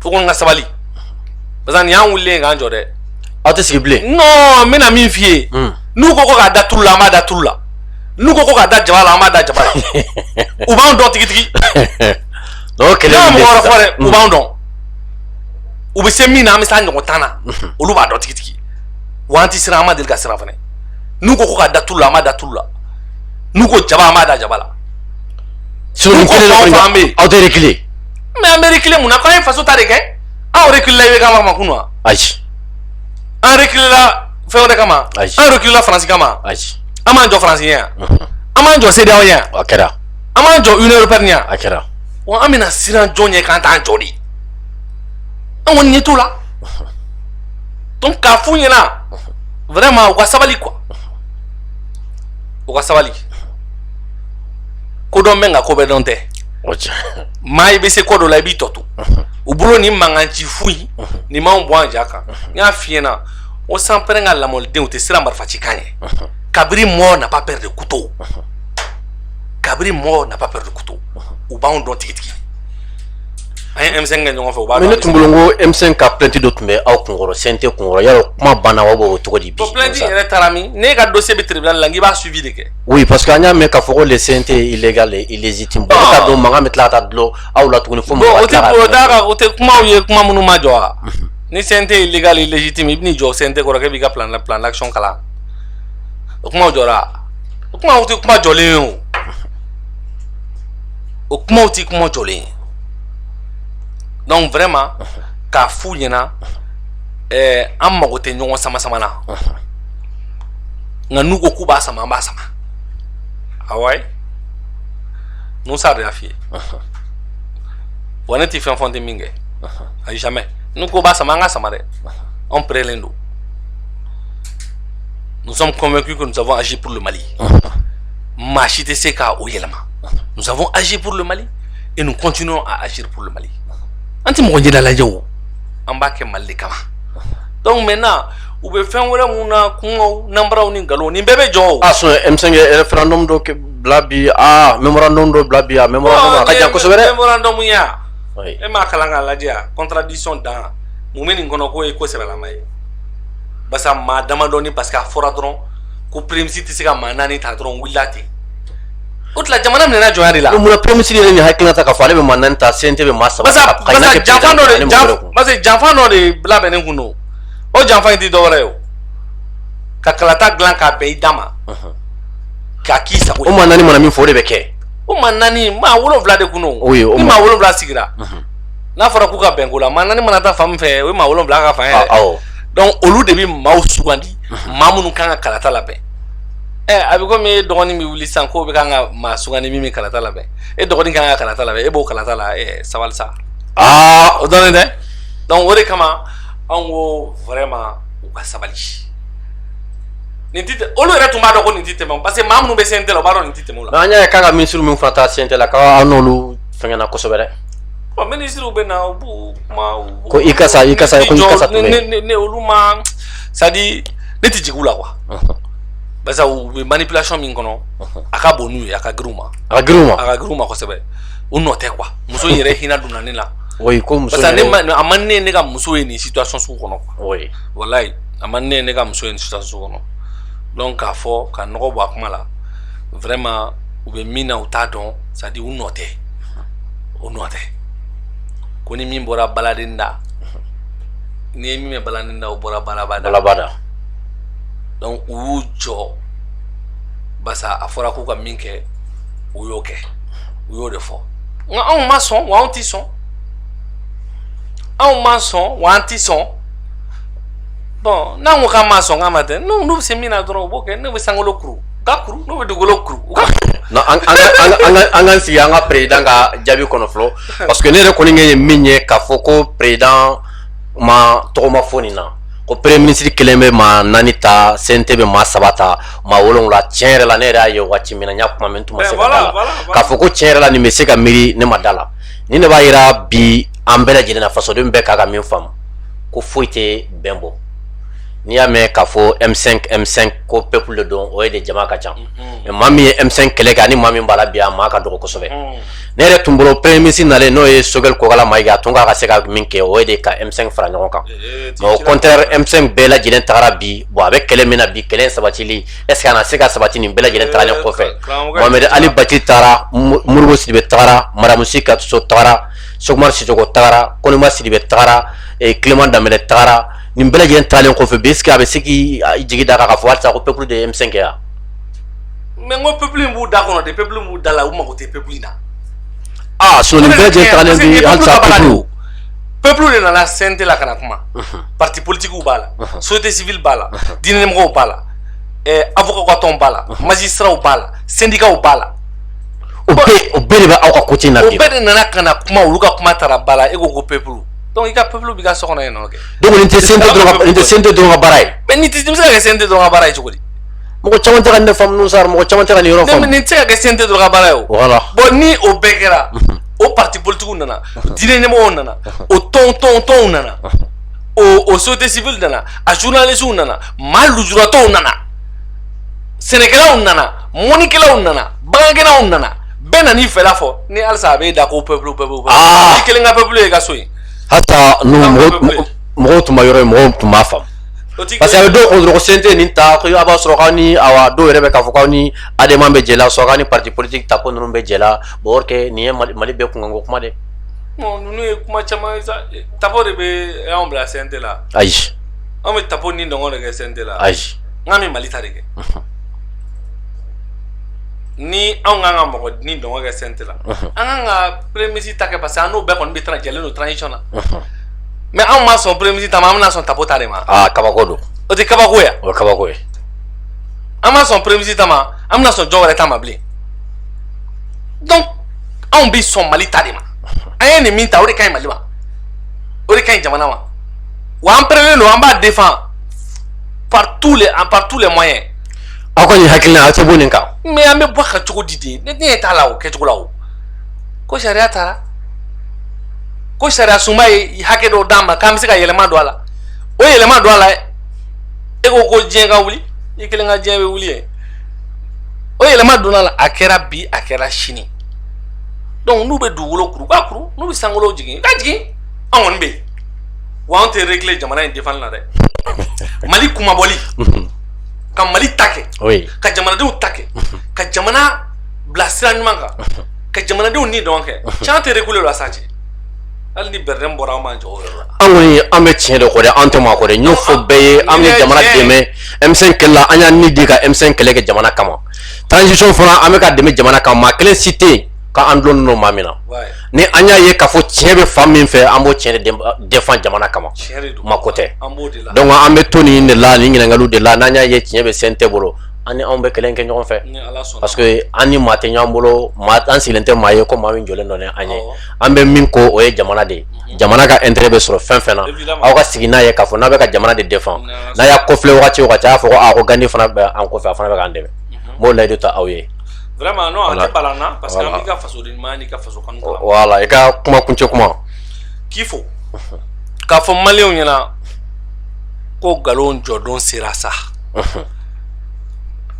S2: u kɔni ka sabali parce que ni an wulilen k'an jɔ dɛ aw tɛ sigi bilen
S1: non n bɛna min
S2: f'i ye n'u ko ko k'a da tulu la an b'a da tulu la n'u ko ko k'a da jaba la an b'a da jaba la u b'an dɔn tigitigi
S1: n'o kelen n ma mɔgɔ wɛrɛ fɔ dɛ
S2: u b'an dɔn u bɛ se min na an bɛ se a ɲɔgɔn tan na olu b'a dɔn tigitigi wa an tɛ siran an ma deli ka siran fana n'u ko ko k'a da tulu la an b'a da tulu la n'u ko jaba an b'a da jaba
S1: la n'u ko fɛn o fɛn an bɛ yen anw tɛ reculer mais an bɛ
S2: reculer mun na k'an ye faso ta de kɛ anw reculer la i bɛ k'an makun wa ayi
S1: an
S2: reculer la fɛn wɛrɛ kama an reculer la faransi kama an m'an
S1: jɔ faransi
S2: ɲɛ an m'an jɔ CEDEAO ɲɛ a kɛra
S1: an m'an jɔ
S2: union européenne ɲɛ a kɛra wa an
S1: bɛna siran
S2: jɔn ɲɛ k'an t'an jɔ de an kɔni ɲɛ t'o la donc k'a f'u ɲɛna vraiment u ka sabali quoi u ka sabali ko dɔn bɛ nka ko bɛɛ dɔn tɛ maa i bɛ se ko dɔ la i b'i tɔ to u bolo ni mankan ci foyi nin m'anw bɔ an ja kan n y'a f'i ɲɛna o sanpɛrɛn ka lamɔdenw tɛ siran marifa ci kan ye cabri mort n'a pas peur de couteau cabri mort n'a pas peur de couteau u b'anw dɔn tigitigi an ye M5 kɛ ɲɔgɔn fɛ u b'a dɔn mais ne tun bolo n ko M5
S1: ka plainte dɔ tun bɛ aw kunkɔrɔ CNT kunkɔrɔ yala o kuma banna wa o cogo di bi o plainte in yɛrɛ taara
S2: min n'e ka dossier bɛ tribunal la n k'i b'a suivi de kɛ oui parce que an y'a mɛn
S1: k'a fɔ ko le CNT est illégal et illégitime bon ne t'a dɔn mankan bɛ tila ka taa dulon aw la tuguni fo mɔgɔw ka tila ka bon o tɛ o t'a ka o tɛ kumaw ye kuma
S2: minnu ma jɔ wa ni CNT est illégal et illégitime i bɛn'i jɔ CNT kɔrɔ k'e b'i ka plan d'action kalan o kumaw jɔra o kumaw tɛ kuma jɔlen ye o o kumaw tɛ kuma jɔlen ye donc vraiment k'a f'u ɲɛna ɛɛ an mago tɛ ɲɔgɔn sama sama na nka n'u ko k'u b'a sama an b'a sama awa ye musa de y'a f'i ye wa ne tɛ fɛn fɔ n tɛ min kɛ. ayi jamais n'u ko b'a sama an ka sama dɛ anw prêtlen don nous sommes convaincus que nous avons agi pour le Mali maa si tɛ se ka o yɛlɛma nous avons agi pour le Mali et nous continuons à agir pour le Mali an tɛ mɔgɔ ɲɛda lajɛ o an b'a kɛ Mali de kama donc maintenant u bɛ fɛn wɛrɛ mun na kungow nanbaraw ni nkalonw nin bɛɛ bɛ jɔ o. a sɔrɔ M5
S1: ye référendum dɔ bila bi aa mémorandum dɔ bila bi a mémorandum a ka jan kosɛbɛ dɛ. mémorandum ya.
S2: e m'a kalan k'a lajɛ a contradiction dan mun bɛ nin kɔnɔ k'o ye ko sɛbɛlama ye basa maa damadɔni parce que a fɔra dɔrɔn ko premier ministre tɛ se ka maa naani ta dɔrɔn wulila ten o tila jamana minɛna jɔnya de la mun na premier ministre yɛrɛ nin
S1: hakilina ta k'a fɔ ale bɛ maa naani ta CNT bɛ maa saba ta basa janfan dɔ
S2: de janfan basa janfan dɔ de labɛnnen kun don o janfan in tɛ dɔwɛrɛ ye o ka kalata dilan k'a bɛn i da ma k'a k'i sago ye o maa naani mana min fɔ o de bɛ
S1: kɛ o maa
S2: naani maa wolonwula de kun don ni maa wolonwula sigira n'a fɔra k'u ka bɛn ko la maa naani mana taa fan min fɛ o ye maa wolonwula ka fan ye dɛ donc olu de bɛ maaw sugandi maa minnu kan ka kalata labɛn ɛ eh, a bɛ komi e dɔgɔnin bɛ wuli sisan k'o bɛ kan ka maa sugandi min bɛ kalata labɛn e dɔgɔnin kan ka kalata labɛn e b'o kalata la ɛ eh, sabali sa aa o dɔnnen tɛ donc o de kama anw ko vraiment u ka sabali nin tɛ tɛmɛ olu yɛrɛ tun b'a dɔn ko nin tɛ tɛmɛ parce que maa minnu bɛ CNT la u b'a dɔn nin tɛ tɛmɛ o la. an y'a ye k'a ka minisiri
S1: min fana taa CNT la k'aw n'olu fɛngɛnna kosɛbɛ dɛ. ɔ minisiriw
S2: bɛ na u b'u kuma. ko Ikasa Ikasa
S1: ko Ikasa tun bɛ yen. ne ne olu ma
S2: c'est à dire ne tɛ jigin u la quoi. parce que u bɛ manipulation min kɔnɔ a ka bon n'u ye a ka girin u ma. a ka girin u ma a ka girin u
S1: ma
S2: kosɛbɛ u nɔ tɛ quoi muso in yɛrɛ hinɛ donna ne la. oui ko muso in yɛrɛ
S1: parce que a man di ne ye
S2: ne ka muso ye nin situation sugu kɔnɔ quoi. oui
S1: walayi a
S2: man di ne ye ne ka muso ye situation sugu kɔnɔ donc k'a fɔ ka nɔgɔ bɔ a kuma la vraiment u bɛ min na u t'a dɔn c'est à dire u nɔ tɛ u nɔ tɛ ko ni min bɔra baladen da n'i ye min mɛn baladen da o bɔra balaba da donc u y'u jɔ basa a fɔra k'u ka min kɛ u y'o kɛ u y'o de fɔ nka anw ma sɔn wa anw tɛ sɔn anw ma sɔn wa an tɛ sɔn bon n'an ko k'an ma sɔn k'an ma tɛ n'u bɛ se min na dɔrɔn u b'o kɛ n'u bɛ sankolo kuru u k'a kuru n'u bɛ dugukolo kuru u ka
S1: an ka sigi an ka président ka jaabi kɔnɔ fɔlɔ parce que ne yɛrɛ kɔni ye min ye k'a fɔ ko président ma tɔgɔ ma fɔ nin na ko premier ministre kelen bɛ maa naani ta CNT bɛ maa saba ta maa wolonwula tiɲɛ yɛrɛ la ne yɛrɛ y'a ye waati min na n y'a kuma mɛn n tun ma se ka da la k'a fɔ ko tiɲɛ yɛrɛ la nin bɛ se ka miiri ne ma da la nin de b'a yira bi an bɛɛ lajɛlen na fasoden bɛɛ ka kan ka min faamu ko foyi tɛ bɛn bɔ n'i y'a mɛn k'a fɔ M5 ko peuple de don o ye de jama ka ca mais maa min ye M5 kɛlɛ kɛ ani maa min b'a la bi a maa ka dɔgɔ kosɛbɛ ne yɛrɛ tun bolo premier ministre nalen n'o ye Choguel Kokalla Maïga a tun ka kan ka se ka min kɛ o ye de ka M5 fara ɲɔgɔn kan au contraire M5 bɛɛ lajɛlen taara bi bon a bɛ kɛlɛ min na bi kɛlɛ sabatili est ce que a na se ka sabati nin bɛɛ lajɛlen taalen kɔfɛ Ali Bathily taara Modibo Sidibé taara Madame Sy Ka Sow taara Cheick Oumar Sissoko tagara Konimba Sidibé tagara Clément Dembélé tagara nin bɛɛ lajɛlen taalen kɔfɛ bi est ce que a bɛ se k'i jigi da kan k'a fɔ halisa ko peuple de ye M5 yan
S2: mais ko peuple b'u da kɔnɔ de peuple b'u da la u mako tɛ peuple in na aaa
S1: so nin bɛɛ lajɛlen taalen halisa
S2: peuple de nana CNT la ka na kuma parti politigiw b'a la société civile b'a la diinɛmɔgɔw b'a la avocat ka tɔn b'a la magistratw b'a la sendikaw b'a la o bɛɛ de bɛ aw ka ko
S1: na o bɛɛ de nana ka na
S2: kuma olu ka kuma taara ba la e ko ko peuple donc i ka peuple b'i ka so kɔnɔ yen nɔ kɛ donc nin tɛ CNT dɔrɔn
S1: nin tɛ CNT dɔrɔn ka baara ye mais nin tɛ se ka kɛ CNT
S2: dɔrɔn ka baara ye cogo di mɔgɔ caman tɛ ka nin
S1: faamu ninnu sara mɔgɔ caman tɛ ka nin yɔrɔ faamu nin tɛ se ka kɛ CNT dɔrɔn
S2: ka baara ye o voilà bon ni
S1: o
S2: bɛɛ kɛra mhm. o parti politigiw nana mhm. diinɛ ɲɛmɔgɔw nana mhm. o tɔn tɔn tɔnw nana o o société civile nana a journalistes nana maa lujuratɔw nana sɛnɛkɛlaw nana mɔnikɛlaw nana bagangɛnnaw nana bɛɛ nana i fɛla fɔ ni halisa a b'i da ko peuple peuple ah! i kelen ka peuple ye ka so yen
S1: hata mɔgɔw tun ma yɔrɔ ye mɔgɔw tun b'a faamu parce que a bɛ dɔw kun dɔrɔn ko CNT nin ta ko a b'a sɔrɔ k'aw ni awa dɔw yɛrɛ bɛ k'a fɔ k'aw ni ADEMA bɛ jɛ la sɔrɔ k'aw ni parti politique ta ko ninnu bɛ jɛ la bon or que nin ye Mali bɛɛ kunkanko kuma de bon ninnu
S2: ye kuma caman ye sa Tapo de bɛ anw bila CNT la ayi
S1: anw bɛ Tapo
S2: nidungɔ de kɛ CNT la ayi n k'an bɛ Mali
S1: ta de
S2: kɛ. ni anw kan ka mɔgɔ nidungɔ kɛ CNT la an kan ka premier ministre ta kɛ parce que an n'o bɛɛ kɔni bɛ jɛlen don transition na mais anw ma sɔn premier ministre ta ma an bɛna sɔn Tapo ta de ma kabako don o
S1: tɛ kabako ye
S2: o ye kabako ye an ma sɔn premier ministre ta ma an bɛna sɔn jɔn wɛrɛ ta ma bilen donc anw bɛ sɔn mali ta de ma an ye nin min ta o de ka ɲi mali ma o de ka ɲi jamana ma wa an pɛrɛlen don an b'a défend par tous les moyens aw ka
S1: nin hakilina aw tɛ bɔ nin kan mais an bɛ bɔ a kan
S2: cogo di de ne ɲɛ t'a la o kɛcogo la o ko sariya tara ko sariya sunba ye hakɛ dɔw d'an ma k'an bɛ se ka yɛlɛma don a la o yɛlɛma don a la e ko ko diɲɛ ka wuli i kelen ka diɲɛ bɛ wuli yen o yɛlɛma donn'a la a kɛra bi a kɛra sini donc n'u bɛ dugukolo kuru ka kuru n'u bɛ sankolo jigin ka jigin an kɔni bɛ yen wa anw tɛ reculer jamana in defanni na dɛ mali kunmabɔli ka mali ta kɛ ka jamanadenw ta kɛ ka jamana bila sira ɲuman kan ka jamanadenw nidungɔ kɛ cɛ an tɛ reculer a la sa cɛ hali ni BRDM bɔra an b'an jɔyɔrɔ la an kɔni an bɛ
S1: tiɲɛ de kɔ dɛ an tɛ maa kɔ dɛ n y'o fɔ bɛɛ ye an bɛ jamana dɛmɛ M5 kɛlɛ la an y'an ni di ka M5 kɛlɛ kɛ jamana kama transition fana an bɛ k'a dɛmɛ jamana kama maa kelen si tɛ yen k'an dulonnen don maa min na ni an y'a ye k'a fɔ tiɲɛ bɛ fan min fɛ an b'o tiɲɛ de défend jamana kama maa ko tɛ donc an bɛ to nin de la nin ɲininkaliw de la n'an y'a ye tiɲɛ bɛ CNT bolo an ni anw bɛ kɛlɛ kɛ ɲɔgɔn fɛ parce que an ni maa tɛ ɲɔgɔn bolo an sigilen tɛ maa ye ko maa min jɔlen don ni an ye an bɛ min kɔ o ye jamana de ye mhm. jamana ka intérêt bɛ sɔrɔ fɛn fɛn na aw ka sigi n'a ye k'a fɔ n'a bɛ ka jamana de défend n'a y'a kɔfilɛ wagati o wagati a y'a fɔ ko a ko Gandi fana bɛ an kɔfɛ a fana bɛ k'an dɛmɛ n b'o layidu ta aw ye. vraiment non voilà. a
S2: tɛ balan na parce que voilà. an b'i ka fasodenɲumanya n'i ka faso kanu kalama voilà i ka
S1: kuma kuncɛ kuma k'i
S2: fo k'a fɔ maliyɛnw ɲɛna ko nkalon jɔdon sera sa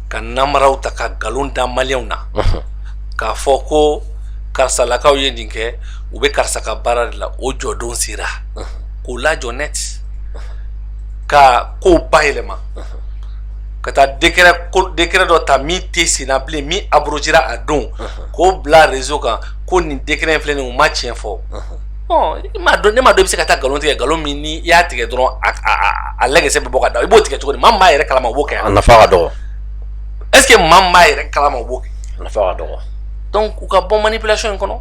S2: ka namaraw ta ka nkalon da maliyɛnw na k'a fɔ ko karisalakaw ye nin kɛ u bɛ karisa ka baara de la o jɔdon sera k'o lajɔ net ka kow bayɛlɛma ka taa décret dɔ ta min tɛ sen na bilen min abrogera a don k'o bila réseau kan ko nin décret filɛ nin u ma tiɲɛ fɔ ne m'a dɔn i bɛ se ka taa nkalon tigɛ nkalon min ni i y'a tigɛ dɔrɔn a lagɛsɛ bɛ bɔ ka da i b'o tigɛ cogo di maa min b'a yɛrɛ kalama o b'o kɛ a nafa ka
S1: dɔgɔ est
S2: ce que maa min b'a yɛrɛ kalama o b'o kɛ nafa ka
S1: dɔgɔ donc u ka
S2: bɔ manipulation in kɔnɔ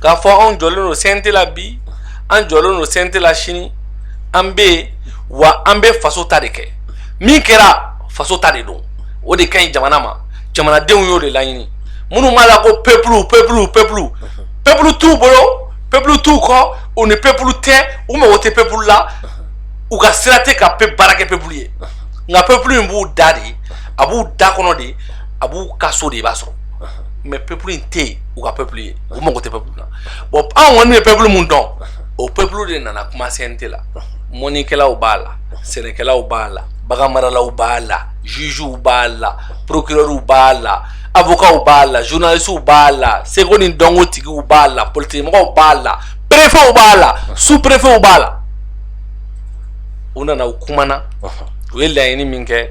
S2: k'a fɔ anw jɔlen don cnt la bi an jɔlen don cnt la sini an bɛ yen wa an bɛ faso ta de kɛ min kɛra faso ta de don o de ka ɲi jamana ma jamanadenw y'o de laɲini minnu b'a la ko pepulu pepulu pepulu pepulu t'u bolo pepulu t'u kɔ u ni pepulu tɛ u mago tɛ pepulu la u ka sira tɛ ka pe baara kɛ pepulu ye nka pepulu in b'u da de a b'u da kɔnɔ de a b'u ka so de i b'a sɔrɔ mais pepulu in tɛ yen u ka pepulu ye u mago tɛ pepulu la bon anw kɔni ye pepulu min dɔn o pepulu de nana kuma cnt la mɔnikɛlaw b'a la sɛnɛkɛlaw b'a la baganmaralaw b'a la jugew b'a la procureurw b'a la avocatw b'a la journalistew b'a la seko ni dɔnko tigiw b'a la politikimɔgɔw b'a la préfetw b'a la sous préfetw b'a la u nana u kumana u ye laɲini min kɛ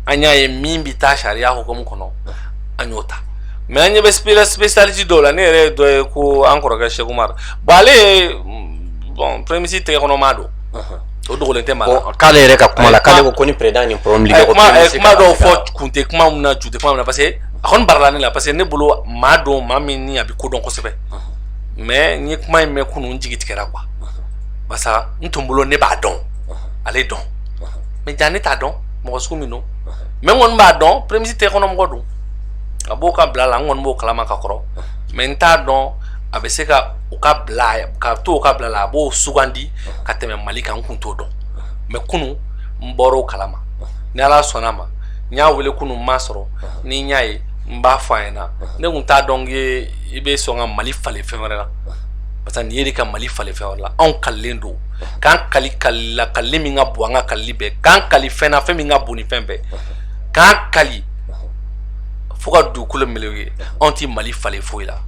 S2: an y'a ye min bɛ taa sariya hukumu kɔnɔ an y'o ta mais an ɲɛ bɛ spécialiste dɔw la ne yɛrɛ ye dɔ ye ko an kɔrɔkɛ cheick oumar bon ale ye bon premier ministre tɛgɛ kɔnɔ maa don o dogolen tɛ maa la k'ale yɛrɛ ka kuma la
S1: k'ale ko ko ni président ni problème ligue ko kuma dɔw
S2: fɔ kun tɛ kuma min na ju tɛ kuma min na parce que a kɔni barala ne la parce que ne bolo maa don maa min ni a bɛ ko dɔn kosɛbɛ mais n ye kuma in mɛn kunun n jigi tigɛra quoi barisa n tun bolo ne b'a dɔn ale dɔn mais jaa ne t'a dɔn mɔgɔ sugu min don mais n kɔni b'a dɔn premier ministre tɛgɛ kɔnɔ mɔgɔ don a b'o kabila la n kɔni b'o kalama ka kɔrɔ mais n t'a dɔn a bɛ se ka u kabila ka to u kabila la a b'o sugandi ka tɛmɛ mali kan n kun t'o dɔn mais kunu n bɔr'o kalama ni ala sɔnna ma n y'a wele kunu n m'a sɔrɔ ni n y'a ye n b'a fɔ a ɲɛ na ne kun t'a dɔn ye i bɛ sɔn ka mali falen fɛn wɛrɛ la parce que nin ye de ka mali falen fɛn wɛrɛ la anw kalilen don k'an kali kali la kalili min ka bon an ka kalili bɛɛ k'an kali fɛn na fɛn min ka bon ni fɛn bɛɛ k'an kali fo ka dugukolo melew ye anw tɛ mali falen foyi la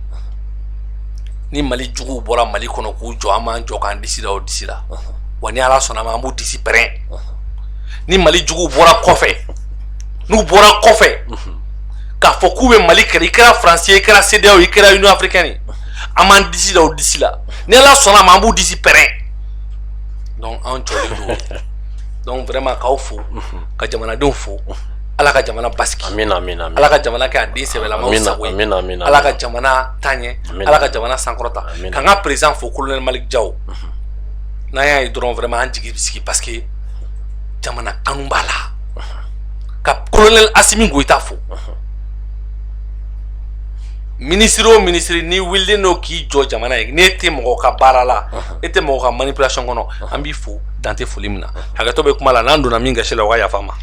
S2: ni mali juguw bɔra mali kɔnɔ k'u jɔ an b'an jɔ k'an disi da o disi la wa ni ala sɔnna ma an b'u disi pɛrɛn ni mali juguw bɔra kɔfɛ n'u bɔra kɔfɛ k'a fɔ k'u bɛ mali kɛrɛ i kɛra faransi ye i kɛra cedeao i kɛra union africaine ye an b'an disi da o disi la ni ala sɔnna ma an b'u disi pɛrɛn donc an jɔlen don donc vraiment k'aw fo ka jamanadenw fo ala ka jamana basigi amina amina ala
S1: ka jamana kɛ a
S2: den sɛbɛlamaw sago ye ala ka jamana taɲɛ ala ka jamana sankɔrɔta k'an ka perezidan fo kolonɛli maliki jaw mhm. n'an y'a ye dɔrɔn vraiment an jigi bɛ sigi parce que jamana kanu b'a la mhm. ka kolonɛli asimi goyita fo mhm. minisiri o minisiri n'i wulilen don k'i jɔ jamana ye n'e tɛ mɔgɔ ka baara la e tɛ mɔgɔ ka manipulation kɔnɔ an b'i fo dan tɛ foli min na hakɛtɔ bɛ kuma la n'an donna min gasi la o ka yafa ma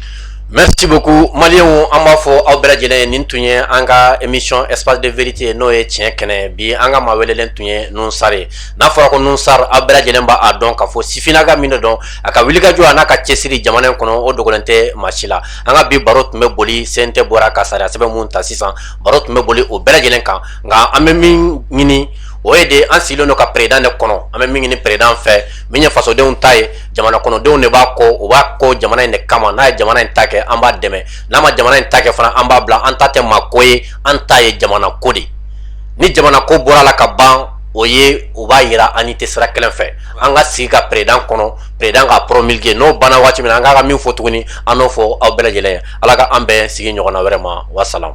S2: Merci
S1: beaucoup maliyɛnw an b'a fɔ aw bɛɛ lajɛlen ye nin tun ye an ka émission espace de vérité ye n'o ye tiɲɛ kɛnɛ bi an ka maa welelen tun ye nuhun sar ye n'a fɔra ko nuhun sar aw bɛɛ lajɛlen b'a dɔn k'a fɔ sifinna ka min de don a ka wulikajɔ a n'a ka cɛsiri jamana in kɔnɔ o dogolen tɛ maa si la an ka bi baro tun bɛ boli CNT bɔra ka sariya sɛbɛn mun ta sisan baro tun bɛ boli o bɛɛ lajɛlen kan nka an bɛ min ɲini o ye de an sigilen don ka peredan de kɔnɔ an bɛ min ɲini peredan fɛ min ye fasodenw ta ye jamana kɔnɔdenw de b'a kɔ u b'a kɔ jamana in de kama n'a ye jamana in ta kɛ an b'a dɛmɛ n'a ma jamana in ta kɛ fana an b'a bila an ta tɛ maa ko ye an ta ye jamana ko de ni jamana ko bɔra la ka ban o ye o b'a yira an ni tɛ sira kelen fɛ an ka sigi ka peredan kɔnɔ peredan k'a promulguer n'o banna waati min na an kan ka min fɔ tuguni an n'o fɔ aw bɛɛ lajɛlen ye ala ka an bɛn sigi ɲɔgɔnna wɛrɛ ma wasalamu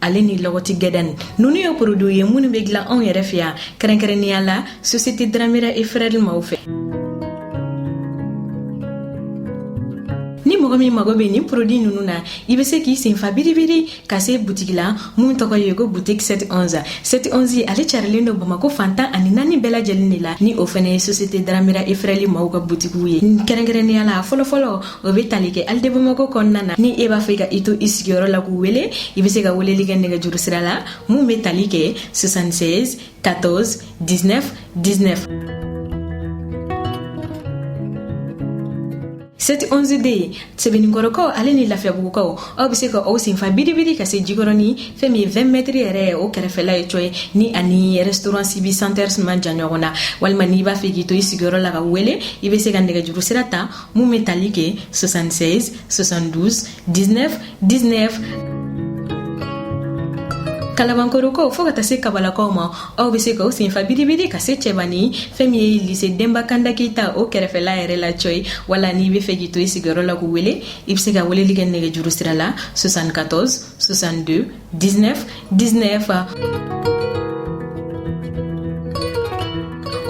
S3: ale ni lɔgɔti gɛdɛni ninnu ye poroduw ye minnu bɛ dilan anw yɛrɛ fɛ yan kɛrɛnkɛrɛnnenya la sosiyete dramera et frères maaw fɛ ni mɔgɔ min mago bɛ nin porodi ninnu na i bɛ se k'i senfa biribiri ka se butigi la mun tɔgɔ ye ko butiki 711 711 ale carilen don bamako fan tan ani naani bɛɛ lajɛlen de la ni o fana ye sosiyete dramera et frères maaw ka butigiw ye kɛrɛnkɛrɛnnenya la fɔlɔfɔlɔ o bɛ tali kɛ halles de bamako kɔnɔna na ni e b'a fɛ ka i to i sigiyɔrɔ la k'u wele i bɛ se ka weleli kɛ nɛgɛjuru sira la mun bɛ tali kɛ 76 14 19 19 seti 11 de ye sɛbɛnninkɔrɔkaw ale ni lafiyabugukaw aw bɛ se ka aw senfa biribiri ka se jikɔrɔni fɛn min ye 20 mɛtiri yɛrɛ ye o kɛrɛfɛla ye cɔyi ni ani restaurant sibi center man jan ɲɔgɔn na walima n'i b'a fɛ k'i to i sigiyɔrɔ la k'u wele i bɛ se ka nɛgɛjuru sira ta Mun bɛ tali kɛ 76 72 19 19 Kalabankorokaw fo ka taa se kabalakaw ma aw bɛ se ka aw senfa biribiri ka se cɛbanin fɛn min ye lise denba kanda keyita o kɛrɛfɛla yɛrɛ la cɔyi wala n'i b'a fɛ k'i to i sigiyɔrɔ la k'u wele i bɛ se ka weleli kɛ nɛgɛjuru sira la 74 62 19 19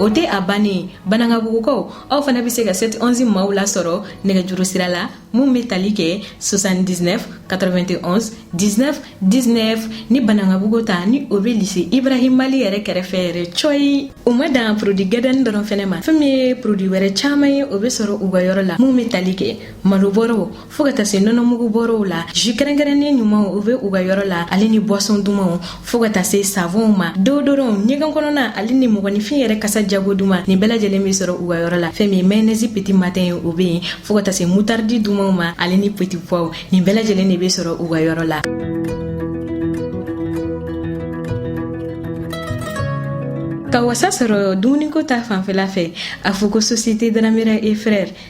S3: o tɛ a bannen banankabugukaw aw fana bɛ se ka 7 11 maaw lasɔrɔ nɛgɛjuru sira la min bɛ tali kɛ 79 91 19 19 ni banankabugu ta ni o bɛ lise ibrahima li yɛrɛ kɛrɛfɛ yɛrɛ cɔyi u ma dan produit gɛdɛni dɔrɔn fɛnɛ ma fɛn min ye produit wɛrɛ caman ye o bɛ sɔrɔ u ka yɔrɔ la min bɛ tali kɛ malobɔrɔw fɔɔ ka ta se nɔnɔmugu bɔrɔw la jus kɛrɛnkɛrɛnnen ɲumanw u be u ka yɔrɔ la ale ni boisson dumanw fɔɔ ka ta se savɔnw ma deodorɔnw ɲɛgɛn kɔnɔna ale ni mɔgɔninfin yɛrɛ kasa jago duman nin bɛɛ lajɛlen be sɔrɔ u ka yɔrɔ la fɛɛn min mayonɛzi peti matɛn ye o be yen fɔɔ ka ta se mutardi dumanw ma ale ni peti puwaw nin bɛɛ lajɛlen de be sɔrɔ u ka yɔrɔ la ka wasa sɔrɔ dumuniko ta fanfɛla fɛ a fɔ ko sosiyete daramera e frɛr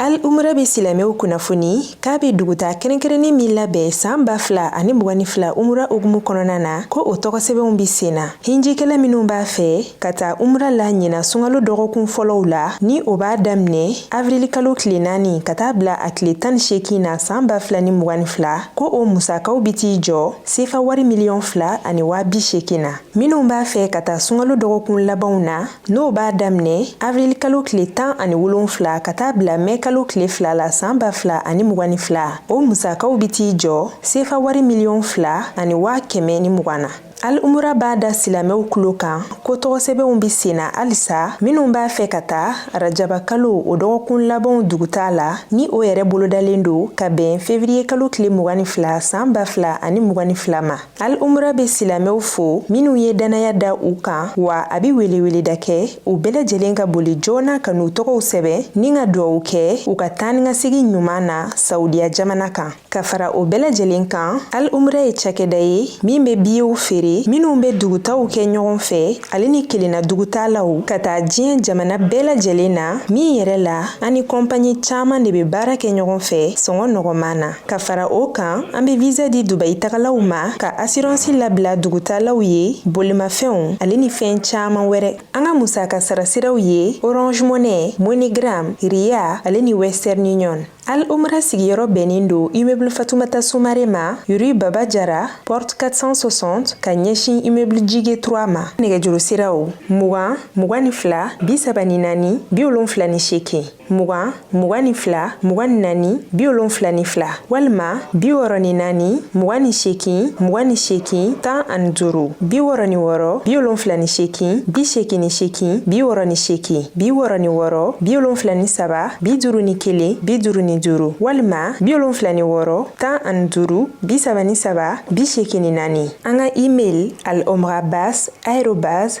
S4: Al umra bɛ silamɛw kunnafoni k'a bɛ duguta kɛrɛnkɛrɛnnen min labɛn san ba fila ani mugan ni fila umra hukumu kɔnɔna na ko o tɔgɔsɛbɛnw bɛ sen na hinjikɛla minnu b'a fɛ ka taa umra la ɲina sunkalo dɔgɔkun fɔlɔw la ni o b'a daminɛ avirilikalo tile naani ka taa bila a tile tan ni seegin na san ba fila ni mugan ni fila ko o musakaw bɛ t'i jɔ sefa wari miliyɔn fila ani waa bi seegin na minnu b'a fɛ ka taa sunkalo dɔgɔkun labanw na N'o b'a daminɛ avril kalo tile tan ani wolonfila ka taa bila mɛn kalo tile fila la san ba fila ani mugan ni fila o musakaw bɛ t'i jɔ sefa wari miliyɔn fila ani waa kɛmɛ ni mugan na al umra b'a da silamɛw tulo kan ko tɔgɔsɛbɛnw bɛ sen na halisa minnu b'a fɛ ka taa arajaba kalo o dɔgɔkun labanw dugutaa la ni o yɛrɛ bolodalen don ka bɛn fevriye kalo tile mugan ni fila san ba fila ani mugan ni fila ma al umra be silamɛw fo minw ye dannaya da u kan wa a be weleweleda kɛ u bɛɛ lajɛlen ka boli joona ka n'u tɔgɔw sɛbɛn ni ka duwawu kɛ u ka taanikasegin ɲuman na saudiya jamana kan ka fara o bɛɛ lajɛlen kan al umra ye cakɛda ye min be biyew feere minw be dugutaw kɛ ɲɔgɔn fɛ ale ni kelenna dugutaalaw ka taa diɲɛ jamana bɛɛ lajɛlen na min yɛrɛ la an ni kɔnpaɲi caaman de be baara kɛ ɲɔgɔn fɛ sɔngɔ nɔgɔman na Ka fara o kan an bɛ visa di Dubayi tagalaw ma ka assurance labila dugutaalaw ye bolimafɛnw ale ni fɛn caman wɛrɛ. An ka musaka sara siraw ye Orange Money, MoneyGram, Ria ale ni Western Union. Al Umra sigiyɔrɔ bɛnnen don immeuble Fatoumata Soumare ma, rue Baba Diarra, porte 460, ka ɲɛsin immeuble Djigue 3 ma. Nɛgɛjuru siraw, mugan, mugan ni fila, bi saba ni naani, bi wolonfila ni seegin. mugan mugan ni fila mugan ni naani bi wolonfila ni fila walima bi wɔrɔ ni naani mugan ni sekin mugan ni sekin tan ani duuru bi wɔrɔ ni wɔrɔ bi wolonfila ni sekin bi sekin ni sekin bi wɔrɔ ni sekin bi wɔrɔ ni wɔrɔ bi wolonfila ni saba bi duuru ni kelen bi duuru ni duuru walima bi wolonfila ni wɔrɔ tan ani duuru bi saba ni saba bi sekin ni naani an ka email al omrabas arobase